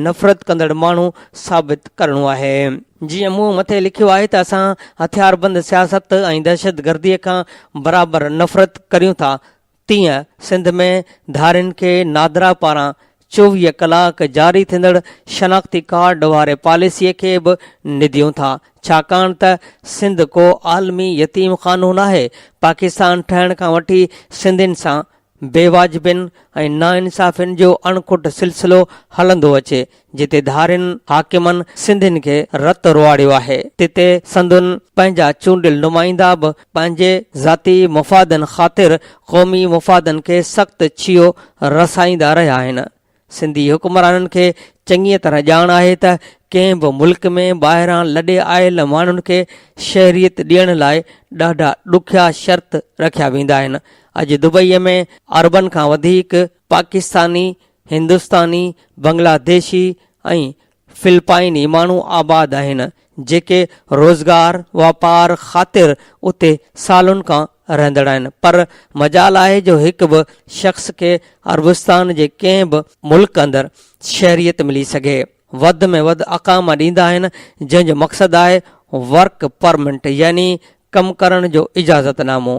نفرت ڪندڙ ماڻهو ثابت ڪرڻو آهي. جيئن مون مٿي لکيو آهي ته اسان هٿياربند سياست ۽ دهشتگرديء کان برابر نفرت ڪريون ٿا، تيئن سنڌ ۾ ڌارين کي نادرا پاران چوويهه ڪلاڪ جاري ٿيندڙ شناختي ڪارڊ واري پاليسي کي به نديون ٿا ڇاڪاڻ ته سنڌ ڪو عالمي يتيم خانو ناهي، پاڪستان ٺهڻ کان وٺي سنڌين سان بيواجبين ۽ ناانصافين جو اڻکٽ سلسلو هلندو اچي، جتي ڌارين حاڪمن سنڌين کي رت رواڙيو آهي تتي سندن پنهنجا چونڊيل نمائندا به پنهنجي ذاتي مفادن خاطر قومي مفادن کي سخت ڇيهو رسائيندا رهيا آهن. سنڌي حڪمرانن کي چڱيء طرح ڄاڻ آهي ته ڪنهن به ملڪ ۾ ٻاهران لڏي آيل ماڻهن کي شهريت ڏيڻ لاء ڏاڍا ڏکيا شرط رکيا ويندا آهن. اڄ دبئيء ۾ اربن کان وڌيڪ پاڪستاني، هندستاني، بنگلاديشي ۽ فلپائني ماڻهو آباد آهن، جيڪي روزگار واپار خاطر اتي سالن کان رهندڙ آهن، پر مجال آهي جو هڪ به شخص کي عربستان جي ڪنهن به ملڪ اندر شهريت ملي سگهي. وڌ ۾ وڌ اقاما ڏيندا آهن، جنهن جو مقصد آهي ورڪ پرمنٽ يعني ڪم ڪرڻ جو اجازت نامو.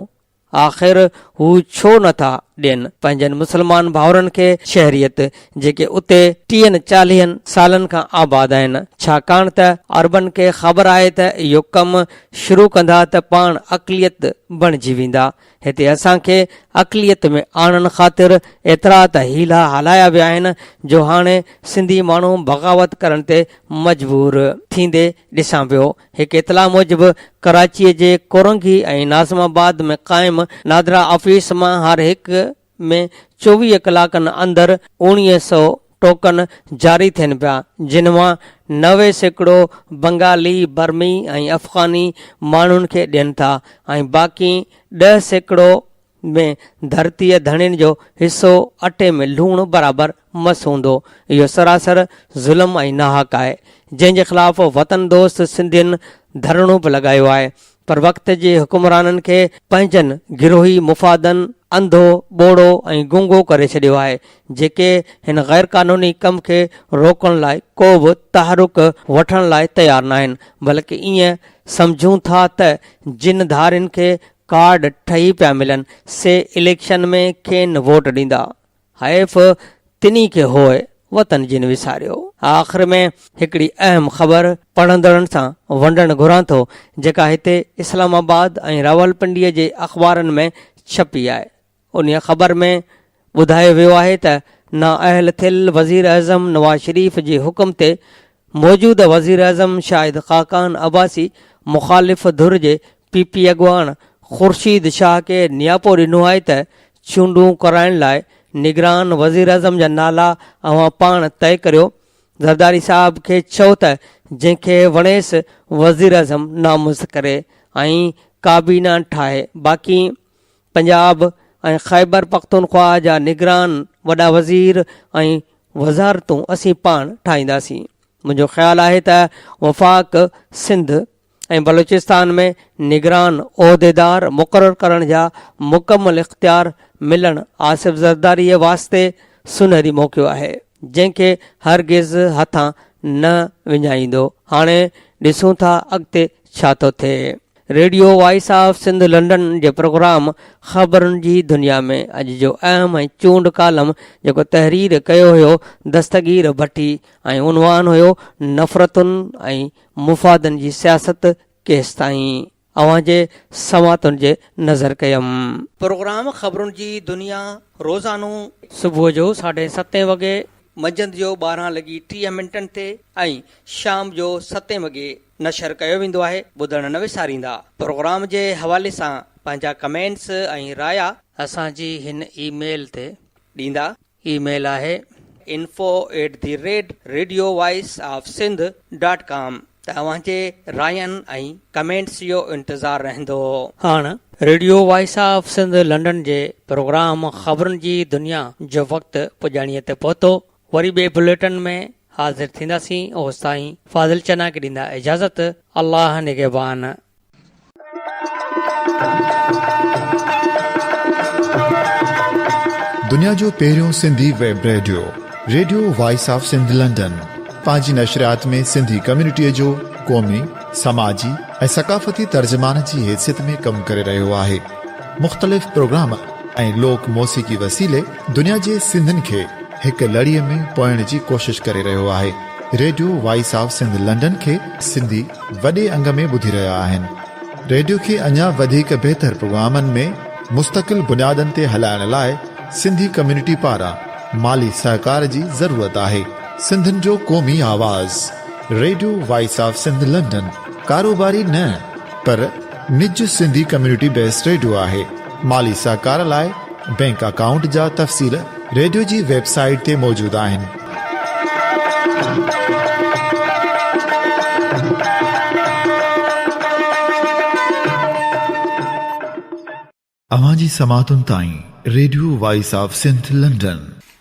آخر هو ڇو نه ٿا ڏين پنهنجن مسلمان ڀائرن کي شهريت جيڪي اتي ٽيهن چاليهن سالن کان آباد آهن ڇاڪاڻ ته عربن کي خبر آهي ته اهو ڪم شروع ڪندا ته پاڻ اقليت بڻجي ويندا هتي اسان کي اقليت ۾ آڻڻ خاطر ايترا ته حيلا هلايا ويا آهن جو هاڻي سنڌي ماڻهو بغاوت ڪرڻ تي مجبور ٿيندي ڏسان پيو هڪ اطلاع موجب ڪراچي جي ڪورنگي ۽ ناظم آباد ۾ قائم نادرا آفيس مان هر هڪ ۾ چوويهه ڪلاڪن اندر اوڻيهه سئو ٽوڪن جاري ٿين پيا جن مان نوي سيڪڙو بنگالي، برمي ۽ افغاني ماڻهن کي ڏين ٿا ۽ باقي ڏهه سيڪڙو ۾ ڌرتيء ڌڻين جو حصو اٽي ۾ لوڻ برابر مس هوندو. اهو سراسر ظلم ۽ ناحق آهي، جنهن جي خلاف وطن دوست سنڌين ڌرڻو به لڳايو آهي، پر وقت جي حڪمرانن کي پنهنجن گروهي مفادن انڌو، ٻوڙو ۽ گونگو ڪري ڇڏيو آهي، جيڪي هن غيرقانوني ڪم کي روڪڻ لاء ڪو به تحرڪ وٺڻ لاء تيار ناهن، بلڪ ائين سمجهون ٿا ته جن ڌارين کي ڪارڊ ٺهي پيا ملن سي اليڪشن ۾ ڪين ووٽ ڏيندا حيف تنهي کي هوء وطن جن وساريو. آخر ۾ هڪڙي اهم خبر پڙهندڙن سان ونڊڻ گهران ٿو جيڪا هتي اسلام آباد ۽ راولپنڊي جي اخبارن ۾ ڇپي آهي انهيء خبر ۾ ٻڌايو ويو آهي ته نااهل ٿيل وزيراعظم نواز شريف جي حڪم تي موجوده وزيراعظم شاهد خاقان عباسي مخالف ڌر جي پي پي اڳواڻ خورشيد شاهه کي نياپو ڏنو آهي ته چونڊون ڪرائڻ لاء نگران وزيراعظم جا نالا اوهان پاڻ طئي ڪريو زرداري صاحب کي چئو ته جنهن کي وڻيس وزيراعظم نامزد ڪري ۽ ڪابينا ٺاهي باقي پنجاب ۽ خيبر پختونخواهه جا نگران، وڏا وزير ۽ وزارتون اسين پاڻ ٺاهينداسين. منهنجو خيال آهي ته وفاق سنڌ ۽ بلوچستان ۾ نگران عهديدار مقرر ڪرڻ جا مڪمل اختيار ملڻ آصف زرداريء واسطي سونهري موقعو آهي، جنهن کي هرگز هٿان نه وڃائيندو. هاڻي ڏسون ٿا اڳتي ڇا ٿو ٿئي. Radio voice of Sindh London جي پروگرام خبرن جي دنيا ۾ اڄ جو اهم ۽ چونڊ ڪالم جيڪو تحرير ڪيو هيو دستگير ڀٽي ۽ عنوان هيو نفرتن ۽ مفادن جي سياست ڪيستائين اوهان جي سماعتن جي نظر ڪيم. پروگرام خبرن جي دنيا روزانو صبح جو ساڍي ستين وڳي، منجهند جو ٻارهن لڳي ٽيهه منٽن تي ۽ شام جو ستين وڳي نشر ڪيو ويندو آهي ٻڌڻ نه وساريندا پروگرام جي حوالي سان پنهنجا ڪمينٽس ۽ رايا اسان جي هن اي ميل تي ڏيندا اي ميل آهي. Info at the rate radio voice of Sindh dot com توهان جي راين ۽ ڪمينٽس جو انتظار رهندو. هاڻ radio voice of Sindh London جي پروگرام خبرن جي دنيا جو وقت پڄاڻيء تي پهتو وري ٻئي بليٽن ۾ حاضر ٿينداسين اوستائين فاضل چنا کي ڏيندا اجازت الله نگهبان. دنيا جو پهريون Sindhi web radio radio voice of Sindh London پنهنجي نشريات ۾ سنڌي ڪميونٽيء جو قومي، سماجي ۽ ثقافتي ترجمان جي حيثيت ۾ ڪم ڪري رهيو آهي. مختلف پروگرام ۽ لوڪ موسيقي وسيلي دنيا جي سنڌين کي هڪ لڙي ۾ پوئڻ جي ڪوشش ڪري رهيو آهي radio voice of Sindh London کي سنڌي وڏي انگ ۾ ٻڌي رهيا آهن ريڊيو کي اڃا وڌيڪ بهتر پروگرامن ۾ مستقل بنيادن تي هلائڻ لاء سنڌي ڪميونٽي پاران مالي سهڪار جي ضرورت آهي سنڌين جو قومي آواز radio voice of Sindh London ڪاروباري نه پر نج سنڌي ڪميونٽي بيس ريڊيو آهي مالي سهڪار لاء بئنڪ اڪائونٽ جا تفصيل ريڊيو جي ويب سائيٽ تي موجود آهن. اوهان جي سماعتن تائين radio voice of Sindh London.